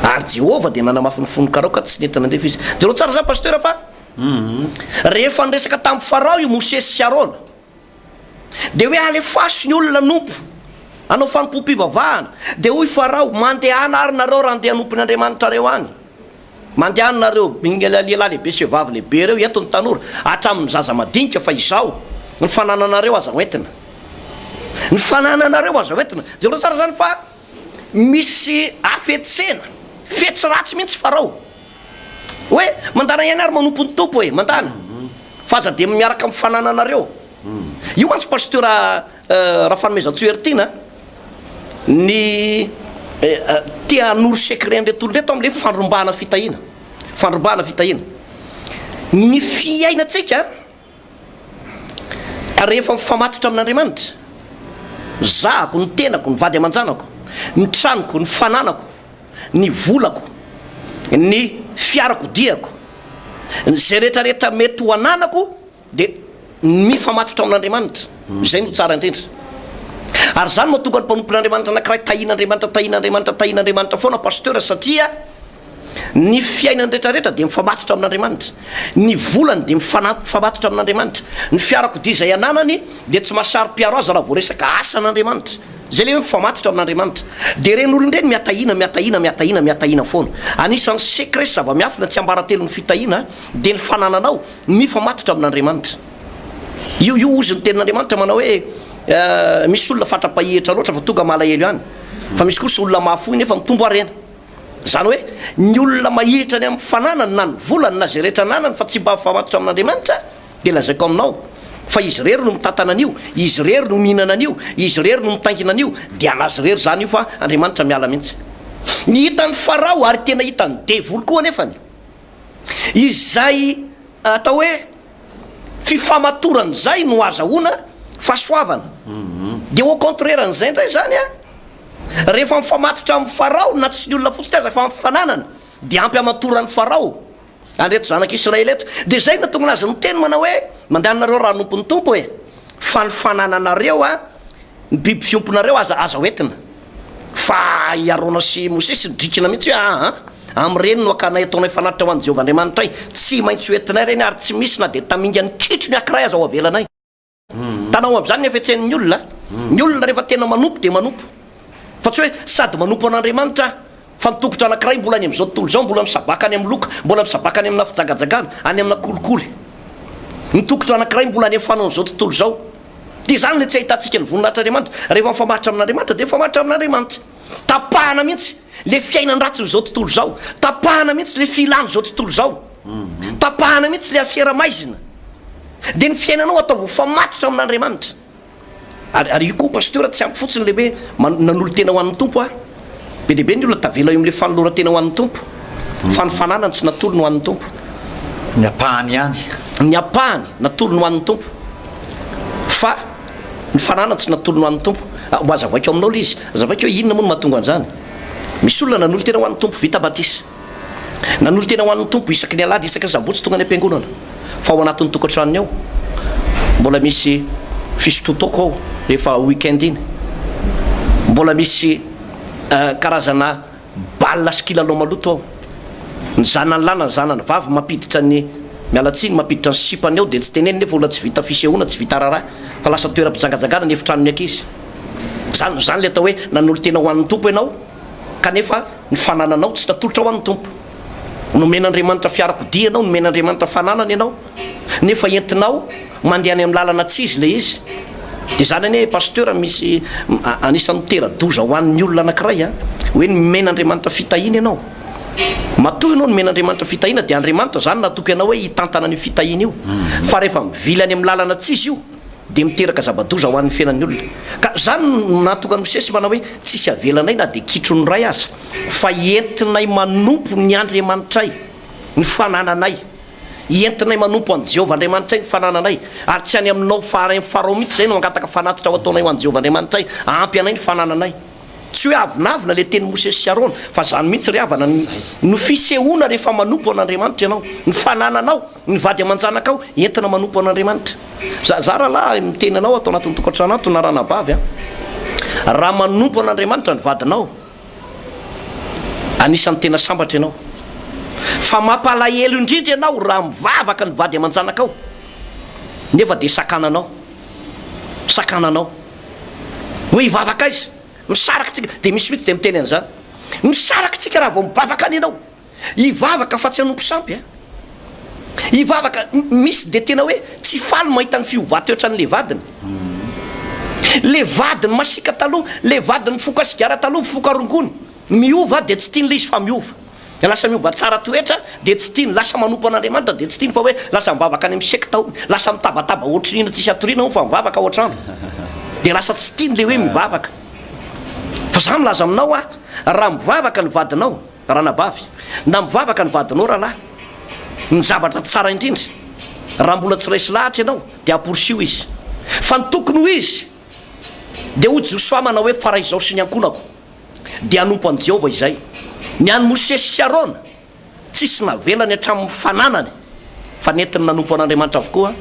Ary Jehovah dia nanamafy ny fon'ny Karaoka tsy nety nandefa izy. Jereo tsara izany Pasteur fa. Rehefa niresaka tamin'i Farao i Mosesy sy Arona, dia hoe, Alefaso ny olona hanompo, hanao fanompoam-pivavahana. Dia hoy Farao, Mandehana àry nareo raha handeha hanompo ny andriamanitrareo any. Mandehana nareo, ny lehilahy lehibe sy vehivavy lehibe ireo, eto ny tanora, hatramin'ny zaza madinika, fa izao, ny fanananareo aza hoentina. Ny fanananareo aza hoentina. Jereo tsara izany fa Misy hafetsena, fetsy ratsy mihitsy Farao. Hoe, mandana ihany ary manompo ny Tompo e, mandana. Fa aza dia miaraka amin'ny fanananareo. Io mantsy Pasteur Rafanomezatsy Heritiana ny te hanoro secret an'ireto olona ireto amin'ilay fandrombahana fitahiana. Fandrombahana fitahiana. Ny fiainantsika Ary rehefa mifamatotra amin'Andriamanitra, ny zahako, ny tenako, ny vady aman-janako, ny tranoko, ny fananako, ny volako, ny fiarakodiako, izay rehetrarehetra mety ho ananako dia ny mifamatotra amin'Andriamanitra. Izay no tsara indrindra. Ary izany no mahatonga ny mpanompon'Andriamanitra anankiray tahin'Andriamanitra, tahin'Andriamanitra, tahin'Andriamanitra foana Pasteur satria Ny fiainany rehetrarehetra dia mifamatotra amin'Andriamanitra. Ny volany dia mifamatotra amin'Andriamanitra. Ny fiarakodia izay ananany dia tsy mahasaro-piaro azy raha vao resaka asan'Andriamanitra. Izay ilay hoe mifamatotra amin'Andriamanitra. Dia ireny olona ireny mihatahina, mihatahina, mihatahina, mihatahina foana. Anisan'ny secret sy zava-miafina tsiambaratelon'ny fitahiana dia ny fanananao mifamatotra amin'Andriamanitra. Io io ozy ny tenin'Andriamanitra manao hoe misy olona fatra-pahihitra loatra fa tonga malahelo ihany, fa misy kosa olona mahafoy nefa mitombo harena. Izany hoe, ny olona mahihitra any amin'ny fananany na ny volany na izay rehetra ananany fa tsy mba mifamatotra amin'Andriamanitra, dia lazaiko aminao, fa izy irery no mitantana an'io, izy irery no mihinana an'io, izy irery no mitaingina an'io, dia an'azy irery izany io fa Andriamanitra miala mihitsy. Ny hitan'i Farao ary tena hitan'ny devoly koa anefany izay atao hoe. fifamatoran izay no azahoana fahasoavana dia au contraire an'izay indray izany an, rehefa mifamatotra amin'i Farao na tsy ny olona fotsiny aza fa ny fananana dia ampy hamatoran'i Farao an'ireto zanak'i Israely ireto, dia izay no nahatonga azy niteny manao hoe mandeha anareo raha hanompo ny Tompo e, fa ny fanananareo an Ny biby fiomponareo aza aza hoentina fa i Arona sy Mosesy nidrikina mihitsy hoe aa amin'ireny no hakanay ataonay fanatitra ho an'i Jehovah Andriamanitray, tsy maintsy hoentinay ireny ary tsy misy na dia tamingan'ny kitro ny ankiray aza ho avelanay. Tanao amin'izany ny hafetsen'ny olona, ny olona rehefa tena manompo dia manompo fa tsy hoe sady manompo an'Andriamanitra aho, Fa ny toko-dra anankiray mbola any amin'izao tontolo izao mbola misabaka any amin'ny loka, mbola misabaka any amina fijagajagana, any amina kolikoly. Ny toko-dra anankiray mbola alefa any amin'izao tontolo izao. Dia izany ilay tsy ahitantsika ny voninahitr'Andriamanitra. Rehefa mifamatotra amin'Andriamanitra dia mifamatotra amin'Andriamanitra. Tapahana mihitsy ilay fiainan-dratsin'izao tontolo izao. Tapahana mihitsy ilay filan'izao tontolo izao. Tapahana mihitsy ilay afera maizina. Dia ny fiainanao ataovy ho famatotra amin'Andriamanitra. Ary ary io koa Pasteur tsy ampy fotsiny le hoe nanolo-tena ho an'ny Tompo aho. Be dia be ny olona tavela eo amin'ilay fanoloran-tena ho an'ny Tompo. Fa ny fananany tsy natolony ho an'ny Tompo. Ny ampahany ihany. Ny ampahany natolony ho an'ny Tompo. Fa ny fananany tsy natolony ho an'ny Tompo. Mba azavaiko aminao le izy. Azavaiko hoe inona moa no mahatonga an'izany. Misy olona nanolo-tena ho an'ny Tompo vita batisa. Nanolo-tena ho an'ny Tompo isaky ny Alahady, isaka Sabotsy tonga any am-piangonana, fa ao anatin'ny tokantranony ao. Mbola misy fisotroan-taoko ao rehefa week-end iny. Mbola misy karazana bal sy kilalao maloto ao. Ny zanany lahy na ny zanany vavy mampiditra ny, miala tsiny, mampiditra ny sipany ao dia tsy teneniny nefa olona tsy vita fisehoana, tsy vita raharaha fa lasa toeram-pijangajangana ny efitranon'ny ankizy. Izany izany ilay atao hoe nanolo-tena ho an'ny Tompo ianao. Kanefa ny fanananao tsy natolotra ho an'ny Tompo. Nomen'Andriamanitra fiarakodia ianao, nomen'Andriamanitra fananana ianao, nefa entinao mandeha any amin'ny lalana tsy izy ilay izy. Dia izany anie Pasteur misy anisan'ny mitera-doza ho an'ny olona anankiray an! Hoe nomen'Andriamanitra fitahiana ianao. Matoa ianao nomen'Andriamanitra fitahiana dia Andriamanitra izany natoky anao hoe hitantana an'io fitahiana io. Fa rehefa mivily any amin'ny lalana tsy izy io, dia miteraka zava-doza ho an'ny fiainan'ny olona. Ka izany no nahatonga an'i Mosesy manao hoe, Tsisy avelanay na dia kitro ny ray aza, fa entinay manompo ny Andriamanitray ny fanananay. Entinay manompo an'i Jehovah Andriamanitray ny fanananay, ary tsy any aminao faharay ny Farao mihitsy izay no hangataka fanatitra ho ataonay ho an'i Jehovah Andriamanitray hahampy anay ny fanananay. Tsy hoe avonavona ilay tenin'i Mosesy sy Arona, fa izany mihitsy ry havana no fisehoana rehefa manompo an'Andriamanitra ianao, ny fanananao. Ny vady aman-janakao entina manompo an'Andriamanitra. Za, za rahalahy miteny anao ato anatin'ny tokantrano ato na ranabavy an, raha manompo an'Andriamanitra ny vadinao, anisan'ny tena sambatra ianao. Fa mampalahelo indrindra ianao raha mivavaka ny vady aman-janakao nefa dia sakananao, sakananao. Hoe hivavaka aiza? Misaraka tsika, dia misy mihitsy dia miteny an'izany. Misaraka tsika raha vao mivavaka any ianao. Hivavaka fa tsy hanompo sampy a! Hivavaka, misy dia tena hoe tsy faly mahita ny fiovan-toetran'ilay vadiny. Ilay vadiny masiaka taloha, ilay vadiny mifoka sigara taloha, mifoka rongony, miova dia tsy tiany ilay izy fa miova. Lasa miova tsara toetra dia tsy tiany, lasa manompo an'Andriamanitra dia tsy tiany fa hoe lasa mivavaka any amin'ny sekta hono, lasa mitabataba ohatry ny hena tsisy hatoriana hono fa mivavaka ao an-trano. Dia lasa tsy tiany ilay hoe mivavaka. Fa za milaza aminao aho, raha mivavaka ny vadinao, Ranabavy, na mivavaka ny vadinao rahalahy, ny zavatra tsara indrindra, raha mbola tsy resy lahatra ianao, dia amporisiho izy. Fa ny tokony ho izy, dia hoy Josoa, manao hoe, Fa raha izaho sy ny ankohonako dia hanompo an'i Jehovah izay. Ny an'i Mosesy sy Arona, tsy nisy navelany hatramin'ny fananany Fa nentiny nanompo an'Andriamanitra avokoa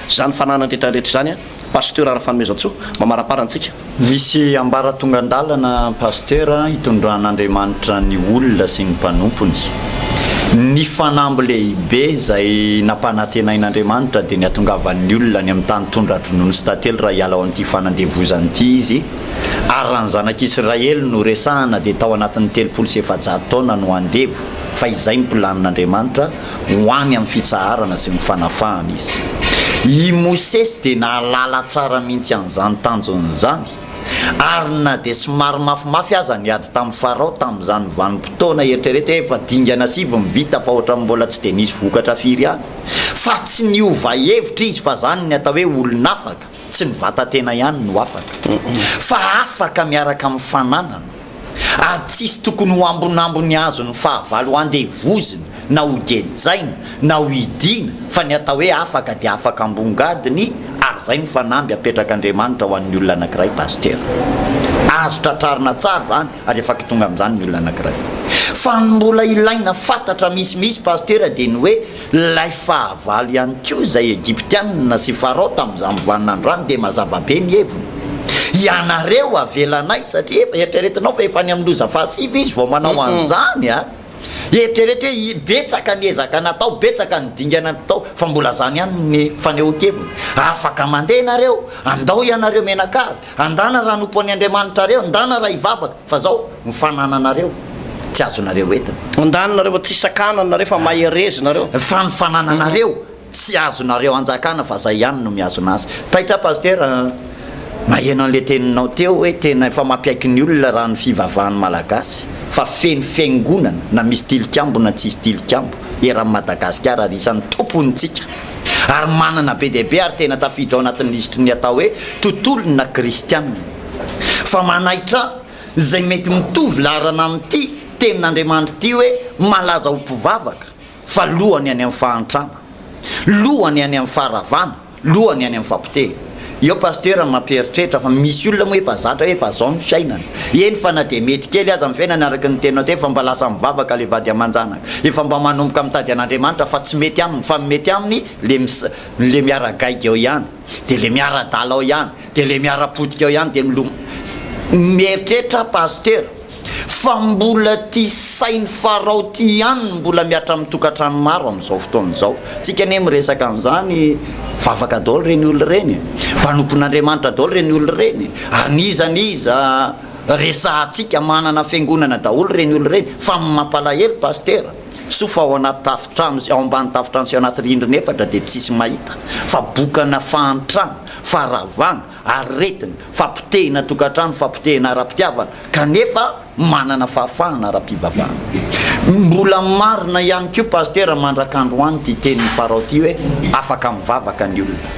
izany fananan'rehetra rehetra izany Pasteur Rafanomezantsoa mamarapara antsika. Misy ambaratongandalana Pasteur hitondran'Andriamanitra ny olona sy ny mpanompony. Ny fanamby lehibe izay nampanantenain'Andriamanitra dia ny hatongavan'ny olona any amin'ny tany tondra-dronono sy tantely raha hiala ao amin'ity fanandevozana ity izy ary raha ny zanak'Israely no resahana dia tao anatin'ny telopolo sy efajato taona no handevo fa izay ny planin'Andriamanitra ho any amin'ny fitsaharana sy ny fanafahana izy. I Mosesy dia nahalala tsara mihitsy an'izany tanjony izany, ary na dia somary mafimafy aza ny ady tamin'i Farao tamin'izany vanim-potoana, eritrereto hoe efa dingana sivy ny vita fa ohatran'ny mbola tsy dia nisy vokatra firy ihany, fa tsy niova hevitra izy fa izany ny atao hoe olon'afaka. Tsy ny vatan-tena ihany no afaka, fa afaka miaraka amin'ny fananana, ary tsisy tokony ho ambonambony azo ny fahavalo handevozina na hogejaina na hohidiana, fa ny atao hoe afaka dia afaka ambongadiny, ary izay no fanamby apetrak'Andriamanitra ho an'ny olona anankiray Pasteur. Azo tratrarina tsara izany ary efa kitonga amin'izany ny olona anankiray. Fa ny mbola ilaina fantatra misimisy Pasteur dia ny hoe, Ilay fahavalo ihany koa izay Egyptianina sy Farao tamin'izany mivanona ny rano dia mazava be ny heviny. Ianareo avelanay satria efa eritreretinao fa efa any amin'ny loza fahasivy izy vao manao an'izany a! Eritrereto hoe i betsaka ny ezaka natao, betsaka ny dingana natao fa mbola izany ihany ny fanehoan-keviny. Afaka mandeha ianareo, andao ianareo mianakavy Andana raha anompo an'i Andriamanitra areo, ndana raha hivavaka, fa zao ny fanananareo tsy azonareo entina. Ndana nareo tsy sakana nareo fa mahereza nareo. Fa ny fanananareo tsy azonareo anjakana fa zay ihany no mihazona azy. Taitra Pasitera a! Maheno an'le teninao teo hoe tena efa mampiaiky ny olona raha ny fivavahan'ny Malagasy fa feno fiangonana na misy tilikambo na tsisy tilikambo eran'i Madagasikara ary isan'ny tompontsika. ary manana be dia be ary tena tafiditra ao anatin'ny lisitry ny atao hoe tontolona kristiana. Fa manaitra izay mety mitovy laharana amin'ity Tenin'Andriamanitra ity hoe malaza ho mpivavaka, fa lohany any amin'ny fahantrana, lohany any amin'ny faharavana, lohany any amin'ny fahapotehy. Eo Pasteur no mampieritreritra fa misy olona moa efa zatra hoe efa zao ny fiainana. Eny fa na dia mety kely aza ny fiainana araka ny teninao teo efa mba lasa mivavaka ilay vady aman-janaka. Efa mba manomboka mitady an'Andriamanitra fa tsy mety aminy fa ny mety aminy le mis le miara-gaigy ao ihany dia le miara-dala ao ihany dia le miara-potika ao ihany dia milo mieritreritra Pasteur. Fa mbola ty sain'i Farao ty ihany no mbola mihatra amin'ny tokantrano maro amin'izao fotoana izao. Tsika anie miresaka an'izany, vavaka daholo ireny olona ireny e! Mpanompon'Andriamanitra daholo ireny olona ireny e! Ary n'iza n'iza resahantsika manana fiangonana daholo ireny olona ireny. Fa ny mampalahelo Pasitera, soa fa ao anaty tafontrano sy ao ambany tafontrano sy anaty rindrina efatra dia tsisy mahita. Fa bokana fahantrana, faharavana, Aretina, fampotehina tokantrano, fampotehina ara-pitiavana, kanefa manana fahafahana ara-pivavahana. Mbola marina ihany koa Pasitera mandrak'androany ity teniny Farao ity hoe afaka mivavaka ny olona,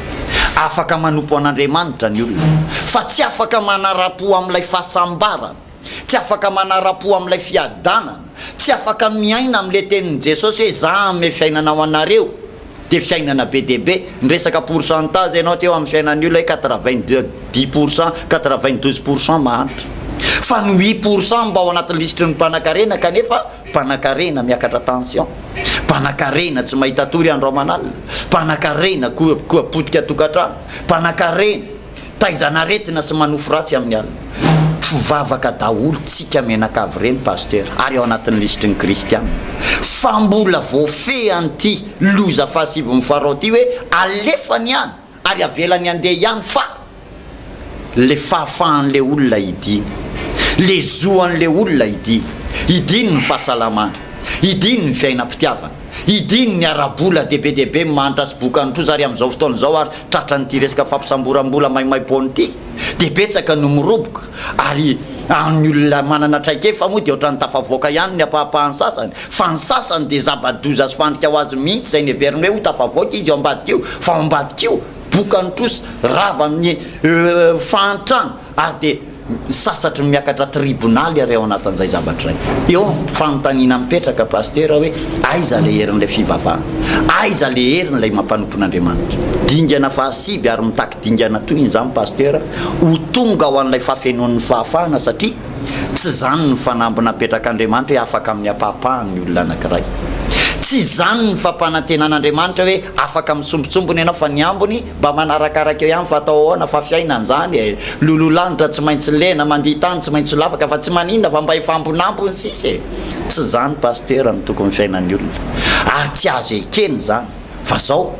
afaka manompo an'Andriamanitra ny olona, fa tsy afaka manara-po amin'ilay fahasambarana. tsy afaka manara-po amin'ilay fiadanana, tsy afaka miaina amin'ilay tenin'i Jesosy hoe za hanome fiainana ho anareo, dia fiainana be dia be, niresaka pourcentage ianao teo amin'ny fiainan'ny olona hoe quatre vingt deux dix pour cent, quatre vingt douze pour cent mahantra, fa ny huit pour cent mba ao anatin'ny lisitry ny mpanankarena kanefa mpanankarena miakatra tension, mpanankarena tsy mahita tory andro aman'alina, mpanankarena koa potika tokantrano, mpanankarena. Taizan'aretina sy manofy ratsy amin'ny alina. Mpivavaka daholo tsika menaka avy ireny Pasitera ary ao anatin'ny lisitry ny Kristiana. Fa mbola voafehy an'ity loza fahasiviny farao ity hoe alefany ihany ary avelany handeha ihany fa le fahafahan'le olona hidina. Le zoan'le olona hidina. Hidiny ny fahasalamany. Hidiny ny fiainam-pitiavana. Hidiny ny ara-bola dia be dia be ny mahantra sy boka ny trosa ary amin'izao fotoana izao ary Tratran'ity resaka fampisamboram-bola maimaimpoana ity dia betsaka no miroboka ary amin'ny olona manana traikefa moa dia ohatran'ny tafavoaka ihany ny ampahampahan'ny sasany fa ny sasany dia zava-doza sy fandrika ho azy mihitsy izay neveriny hoe ho tafavoaka izy eo ambadik'io fa ao ambadik'io bokany trosa rava amin'ny fahantrana ary dia sasatry ny miakatra tribonaly ary ao anatin'izay zavatra izay. Eo ny fanontaniana mipetraka Pasitera hoe aiza ilay herin'ilay fivavahana? Aiza ilay herin'ilay mampanompon'Andriamanitra? Dingana fahasivy ary mitaky dingana toy izany Pasitera ho tonga ho an'ilay fahafenoan'ny fahafahana satria tsy izany ny fanamby napetrak'Andriamanitra hoe afaka amin'ny ampahapahany ny olona anankiray. Tsy izany ny fampanantenan'Andriamanitra hoe afaka amin'ny sombintsombiny ianao fa ny ambiny Mba manarakaraka eo ihany fa atao ahoana fa fiainana izany e! Loloha lanitra tsy maintsy lena, mandihy tany tsy maintsy lavaka fa tsy maninona fa mba hifamponampony sisa e! Tsy izany Pasteur no tokony fiainan'ny olona ary tsy azo ekena izany fa zao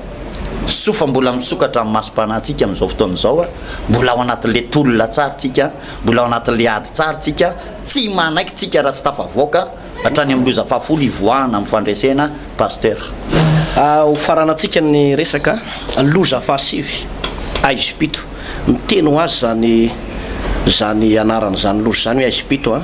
soa fa mbola misokatra amin'ny masom-panahy tsika amin'izao fotoana izao a! Mbola ao anatin'ilay tolona tsara tsika, mbola ao anatin'ilay ady tsara tsika, tsy manaiky tsika raha tsy tafavoaka, Hatrany amin'ny loza fahafolo hivoahana amin'ny fandresena Pasteur. Ho faranantsika ny resaka loza fahasivy aizipito. Miteny ho azy izany izany anarana izany loza izany hoe aizipito a.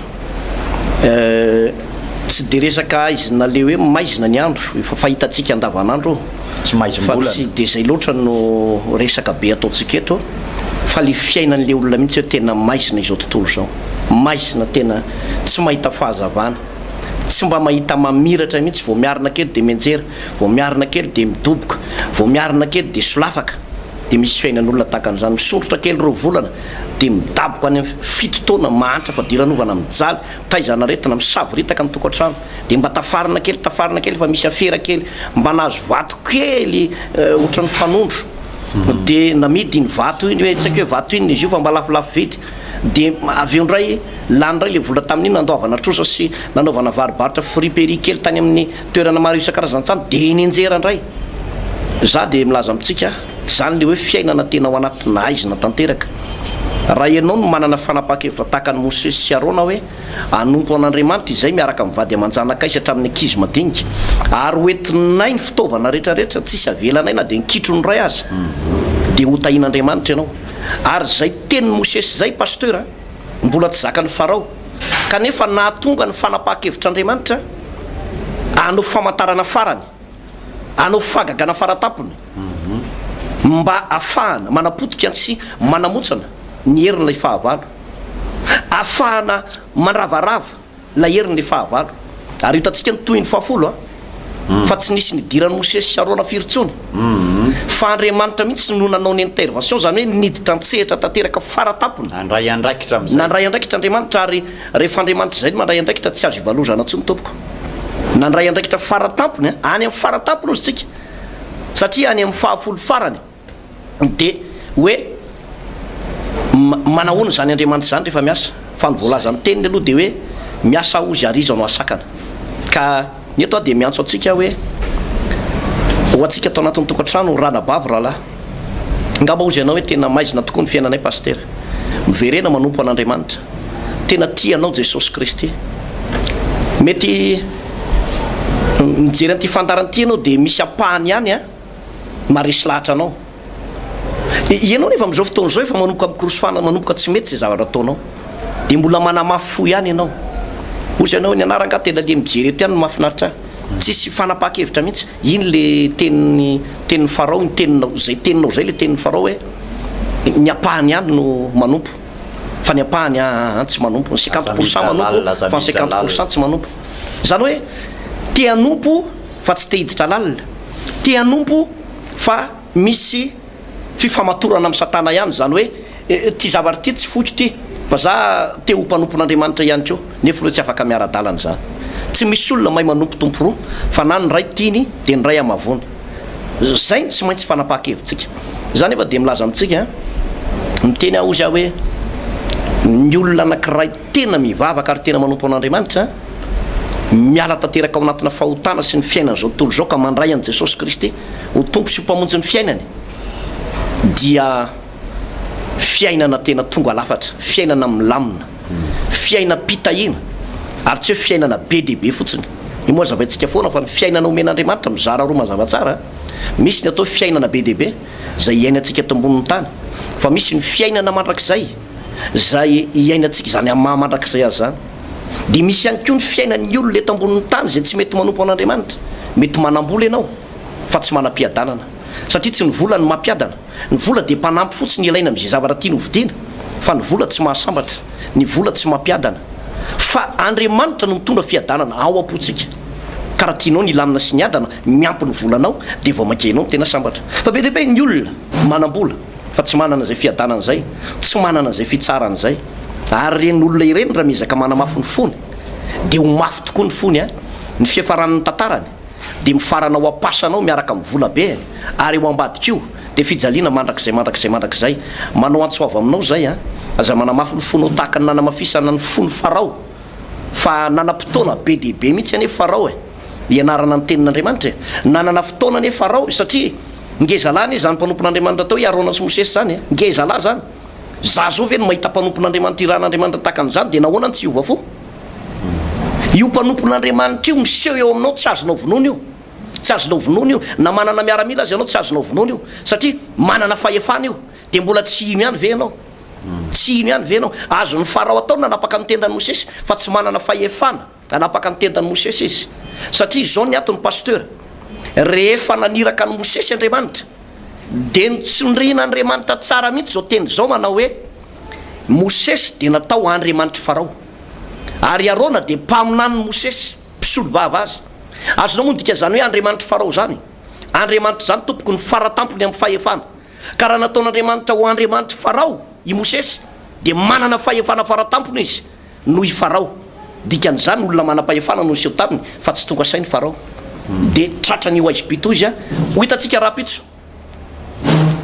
Tsy dia resaka haizina le hoe maizina ny andro efa fahitantsika andavanandro fa tsy dia izay loatra no resaka be ataontsika eto fa le fiainan'le olona mihitsy hoe tena maizina izao tontolo izao. maizina tena tsy mahita fahazavana, tsy mba mahita mamiratra mihitsy, vao miarina kely dia mianjera, vao miarina kely dia midoboka, vao miarina kely dia solafaka, dia misy fiainan'olona tahaka an'izany, misondrotra kely roa volana dia midaboka any amin'ny fito taona, mahantra fadiranovana, mijaly, taizan'aretina, misavoritaka ny tokantrano, dia mba tafarina kely, tafarina kely fa misy afera kely, mba nahazo vato kely ohatran'ny fanondro, dia namidy iny vato iny hoe, tsy haiko hoe vato inona izy io fa mba lafolafo vidy, Dia avy eo indray, lany indray ilay vola tamin'iny nandoavana trosa sy nanaovana varo-barotra friperie kely tany amin'ny toerana maro isan-karazan-tsamy dia eny Injera indray. Izaho dia milaza amintsika, izany ilay hoe fiainana tena ao anatina haizina tanteraka. Raha ianao no manana fanapahan-kevitra tahaka an'i Mosesy sy Arona hoe hanompo an'Andriamanitra izay miaraka amin'ny vady aman-janakay sy hatramin'ny ankizy madinika, ary hoentinay ny fitaovana rehetra rehetra tsisy avelanay na dia ny kitro ny iray aza, dia hotahin'Andriamanitra ianao. Ary zay tenin'i Mosesy zay Pasteur a, mbola tsy zakan'i Farao, kanefa nahatonga ny fanapaha-kevitr'Andriamanitra hanao famantarana farany, hanao fagagana faratampony, mba afahana manapotika sy manamotsana ny herin'ilay fahavalo, afahana mandravarava. na herin'ny fahavalo. Ary hitantsika ny tohin'ny fahafolo fa tsy nisy nidiran'i Mosesy sy Arona firy intsony fa Andriamanitra mihitsy no nanao ny intervention, izany hoe niditra an-tsehatra tanteraka fara tampony. Nandray andraikitra amin'izay. Nandray andraikitra Andriamanitra ary rehefa Andriamanitra izay no mandray andraikitra tsy azo ivalozana intsony tompoko. Nandray andraikitra fara tampony, any amin'ny fara tampony hozy tsika satria any amin'ny fahafolo farany. dia hoe manahoana izany Andriamanitra izany rehefa miasa? Fa ny voalazan'ny teniny aloha dia hoe miasa aho ozy ary iza no hasakana. Ka ny eto aho dia miantso antsika hoe ho antsika ato anatin'ny tokantrano ranabavy rahalahy. Angamba hozy ianao hoe tena maizina tokoa ny fiainanay Pasitera. Miverena manompo an'Andriamanitra. Tena tia anao Jesosy Kristy. Mety mijery an'ity fandaharana ity ianao dia misy ampahany ihany an. maharesy lahatra anao. Ianao nefa amin'izao fotoana izao efa manomboka mikorosofana manomboka tsy mety izay zavatra ataonao. Dia mbola manamafy fo ihany ianao. Hozy ianao eny anara angaha tena le mijery eto ihany no mahafinaritra ahy. Tsisy fanapahan-kevitra mihitsy. Iny le tenin'ny tenin'ny Farao iny, teninao, izay teninao izay le tenin'ny Farao hoe ny ampahany ihany no manompo fa ny ampahany aa tsy manompo. Ny cinquante pour cent manompo fa ny cinquante pour cent tsy manompo. Izany hoe te hanompo fa tsy te hiditra lalina. te hanompo fa misy fifamatorana amin'i Satana ihany, izany hoe ity zavatra ity tsy foko ity fa za te ho mpanompon'Andriamanitra ihany koa, nefa ireo tsy afaka miara-dalana izany. Tsy misy olona mahay manompo tompo roa fa na ny ray tiany dia ny ray hamavoany. Izay no tsy maintsy fanapahan-kevitsika. Za nefa dia milaza amintsika, miteny aho hozy aho hoe ny olona anankiray, tena mivavaka ary tena manompo an'Andriamanitra, miala tanteraka ao anatina fahotana sy ny fiainan'izao tontolo izao ka mandray an'i Jesosy Kristy ho Tompo sy ho Mpamonjy ny fiainany dia fiainana tena tonga lafatra, fiainana milamina, fiainam-pitahiana ary tsy hoe fiainana be dia be fotsiny. Io moa zavaintsika foana fa ny fiainana omen'Andriamanitra mizara roa mazava tsara, misy ny atao hoe fiainana be dia be izay iainantsika eto ambonin'ny tany fa misy ny fiainana mandrakizay. izay iainantsika izany amin'ny maha mandrakizay azy izany, dia misy ihany koa ny fiainan'ny olona eto ambonin'ny tany izay tsy mety manompo an'Andriamanitra. Mety manam-bola ianao, fa tsy manam-piadanana, satria tsy ny vola no mampiadana. Ny vola dia mpanampy fotsiny ilaina amin'izay zavatra tiana hovidiana, fa ny vola tsy mahasambatra, ny vola tsy mampiadana. Fa Andriamanitra no mitondra fiadanana ao am-pontsika, ka raha tianao ny hilamina sy ny hiadana, miampy ny volanao, dia vao mainka ianao no tena sambatra. Fa be dia be ny olona manam-bola. fa tsy manana izay fiadanana izay, tsy manana izay fitsarana izay. Ary ireny olona ireny raha miezaka manamafy ny fony, dia ho mafy tokoa ny fony an! Ny fiafaran'ny tantarany dia mifarana ao am-pasanao miaraka amin'ny volabeany, ary eo ambadika io dia fijaliana mandrakizay, mandrakizay, mandrakizay. Manao antso avo aminao izay an! Aza manamafy ny fonao tahaka ny nanamafisana ny fon'i Farao, fa nanam-potoana be dia be mihitsy anie Farao e! ianarana ny Tenin'Andriamanitra e! Nanana fotoana anie Farao satria ngezalahy anie izany mpanompon'Andriamanitra atao hoe Arona sy Mosesy izany e! Ngezalahy izany! Izaho izao ve no mahita mpanompon'Andriamanitra irahan'Andriamanitra tahaka an'izany dia nahoana no tsy hiova fo? Io mpanompon'Andriamanitra io miseho eo aminao tsy azonao vonoina io! Tsy azonao vonoina io! Na manana miaramila aza ianao tsy azonao vonoina io! Satria manana fahefana io! Dia mbola tsy hino ihany ve ianao? Tsy hino ihany ve ianao? Azon'i Farao atao ny nanapaka ny tendan'i Mosesy fa tsy manana fahefana! Nanapaka ny tendan'i Mosesy izy. Satria izao ny antony Pasteur, rehefa naniraka an'i Mosesy Andriamanitra, dia nitsindrian'Andriamanitra tsara mihitsy izao teny izao manao hoe, Mosesy dia natao Andriamanitr'i Farao. Ary i Arona dia mpaminanin'i Mosesy, mpisolovava azy. Azonao moa ny dikan'izany hoe Andriamanitr'i Farao izany? Andriamanitra izany tompoko ny faratampony amin'ny fahefana. Ka raha nataon'Andriamanitra ho Andriamanitr'i Farao i Mosesy, dia manana fahefana faratampony izy. Noho i Farao. Dikan'izany, olona manam-pahefana no niseho taminy, fa tsy tonga saina i Farao. Dia tratran'ny ho aiza pitoa izy. Ho hitantsika rahampitso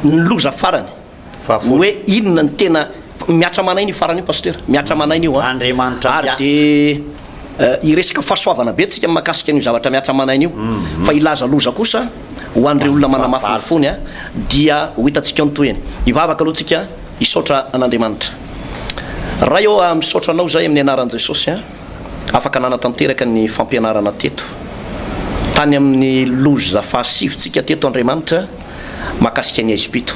ny loza farany. Hoe inona ny tena. Mihatra aman'aina io farany io Pasitera. Mihatra aman'aina io an. Ary dia hiresaka fahasoavana be tsika mahakasika an'io zavatra mihatra aman'aina io. Fa hilaza loza kosa ho an'ireo olona manamafy ny fony dia ho hitantsika ao ny tohiny. Hivavaka aloha tsika. Hisaotra an'Andriamanitra. Ray ô ah misaotra anao zay amin'ny anaran'i Jesosy an! Afaka nanatanteraka ny fampianarana teto tany amin'ny loza fahasivy tsika teto Andriamanitra mahakasika ny haizim-pito.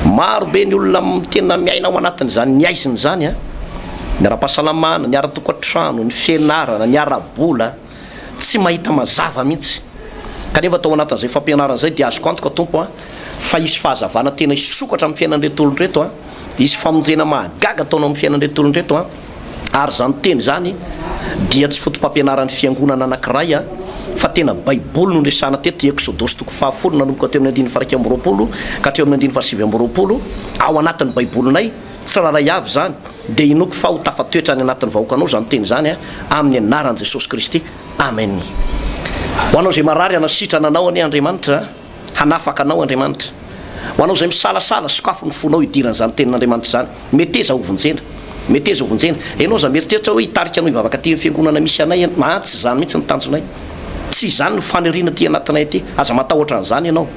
Maro be ny olona tena miaina ao anatin'izany ny haizina izany an! Ny ara-pahasalamana, ny ara-tokantrano, ny fianarana, ny ara-bola. tsy mahita mazava mihitsy. Kanefa tao anatin'izay fampianarana izay dia azoko antoka Tompo a, fa hisy fahazavana tena hisokatra amin'ny fiainan'ireto olona ireto a, hisy famonjena mahagaga ataonao amin'ny fiainan'ireto olona ireto a, ary izany teny izany dia tsy foto-pampianaran'ny fiangonana anankiray a, fa tena baiboly no niresahana teto, Eksodosy toko fahafolo nanomboka teo amin'ny andininy faha iraika amby roapolo ka hatreo amin'ny andininy fahasivy amby roapolo, ao anatin'ny baibolinay, Tsirairay avy izany dia inoako fa ho tafatoetra any anatin'ny vahoakanao izany teny izany amin'ny anaran'i Jesosy Kristy. Amen. Ho anao izay marary hanasitrana anao anie Andriamanitra a! Hanafaka anao Andriamanitra. Ho anao izay misalasala, sokafy ny fonao hidirana izany tenin'Andriamanitra izany. Meteza ho vonjena. Meteza ho vonjena. Ianao izay mieritreritra hoe hitarika anao hivavaka aty amin'ny fiangonana misy anay ianao, aa tsy izany mihitsy ny tanjonay. Tsy izany ny faniriana aty anatinay aty. Aza matahotra an'izany ianao.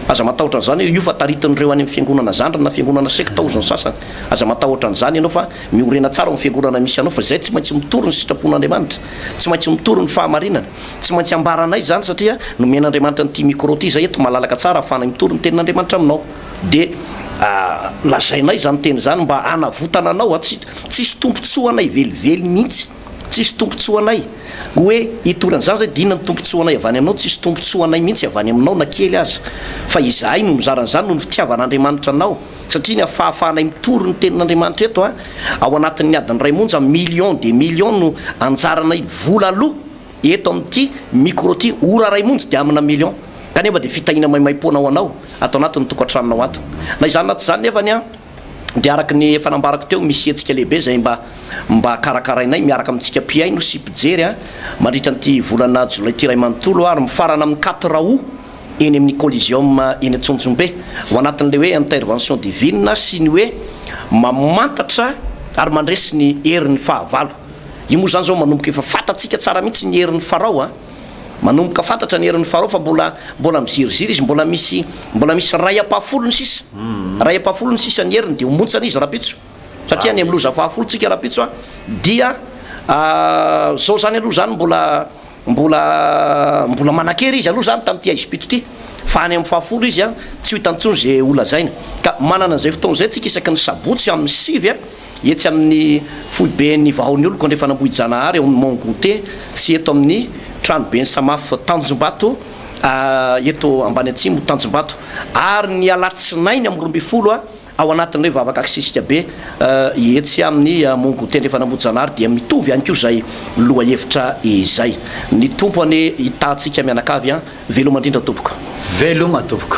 Aza matahotra an'izany io fa taritin'ireo any amin'ny fiangonana zandriny na fiangonana sekta ozy ny sasany. Aza matahotra an'izany ianao fa miorena tsara ao amin'ny fiangonana misy anao fa izay tsy maintsy mitory ny sitrapon'Andriamanitra. Tsy maintsy mitory ny fahamarinana. Tsy maintsy ambaranay izany satria nomen'Andriamanitra an'ity micro ity izay eto malalaka tsara ahafahanay mitory ny tenin'Andriamanitra aminao. Dia lazainay izany teny izany mba hanavotana anao. Tsy hisy tombotsoa anay velively mihitsy. Tsisy tombotsoa anay. Hoe hitory an'izany izay dia inona ny tombotsoa anay avy any aminao? Tsisy tombotsoa anay mihitsy avy any aminao na kely aza. Fa izahay no mizara an'izany noho ny fitiavan'Andriamanitra anao. Satria ny afahafahanay mitory ny tenin'Andriamanitra eto a, ao anatin'ny adiny iray monja, millions des millions no anjaranay vola aloa eto amin'ity micro ity, ora iray monjy dia amina millions. Kanefa dia fitahiana maimaimpoana ho anao ato anatin'ny tokantranonao ato. Na izany na tsy izany nefany a. dia araka ny efa nambarako teo, misy hetsika lehibe izay mba mba karakarainay miaraka amintsika mpihaino sy mpijery mandritra an'ity volana jolay ity iray manontolo ary mifarana amin'ny quatre aout eny amin'ny Coliseum eny Antsonjombe ho anatin'ilay hoe intervention divine sy ny hoe mamantatra ary mandresy ny herin'ny fahavalo. Io moa izany izao manomboka efa fantatsika tsara mihitsy ny herin'i Farao a! Manomboka fantatra ny herin'ny Farao fa mbola mbola miziriziry izy, mbola misy mbola misy ray ampahafolony sisa. Ray ampahafolony sisa ny heriny dia ho montsana izy rahampitso. Satria any amin'ny loza fahafolo tsika rahampitso a dia zao zany aloha zany mbola mbola mbola manan-kery izy aloha zany tamin'ity haizim-pito ity fa any amin'ny fahafolo izy a tsy ho hitantsony ze ho lazaina. Ka manana an'izay fotoana izay tsika isaky ny sabotsy amin'ny sivy a. etsy amin'ny foiben'ny Vahaonioloko Andrefan'Ambohijanahary ao amin'ny Mont Goûter sy eto amin'ny tranoben'ny Samaf Tanjombato eto Ambaniatsimo Tanjombato ary ny alatsinainy amin'ny roa ambin'ny folo a ao anatin'ireo vavaka aksesika be etsy amin'ny Mont Goûter Andrefan'Ambohijanahary dia mitovy ihany koa izay lohahevitra izay. Ny Tompo anie hitahantsika mianakavy a! Veloma indrindra tompoko. Veloma tompoko.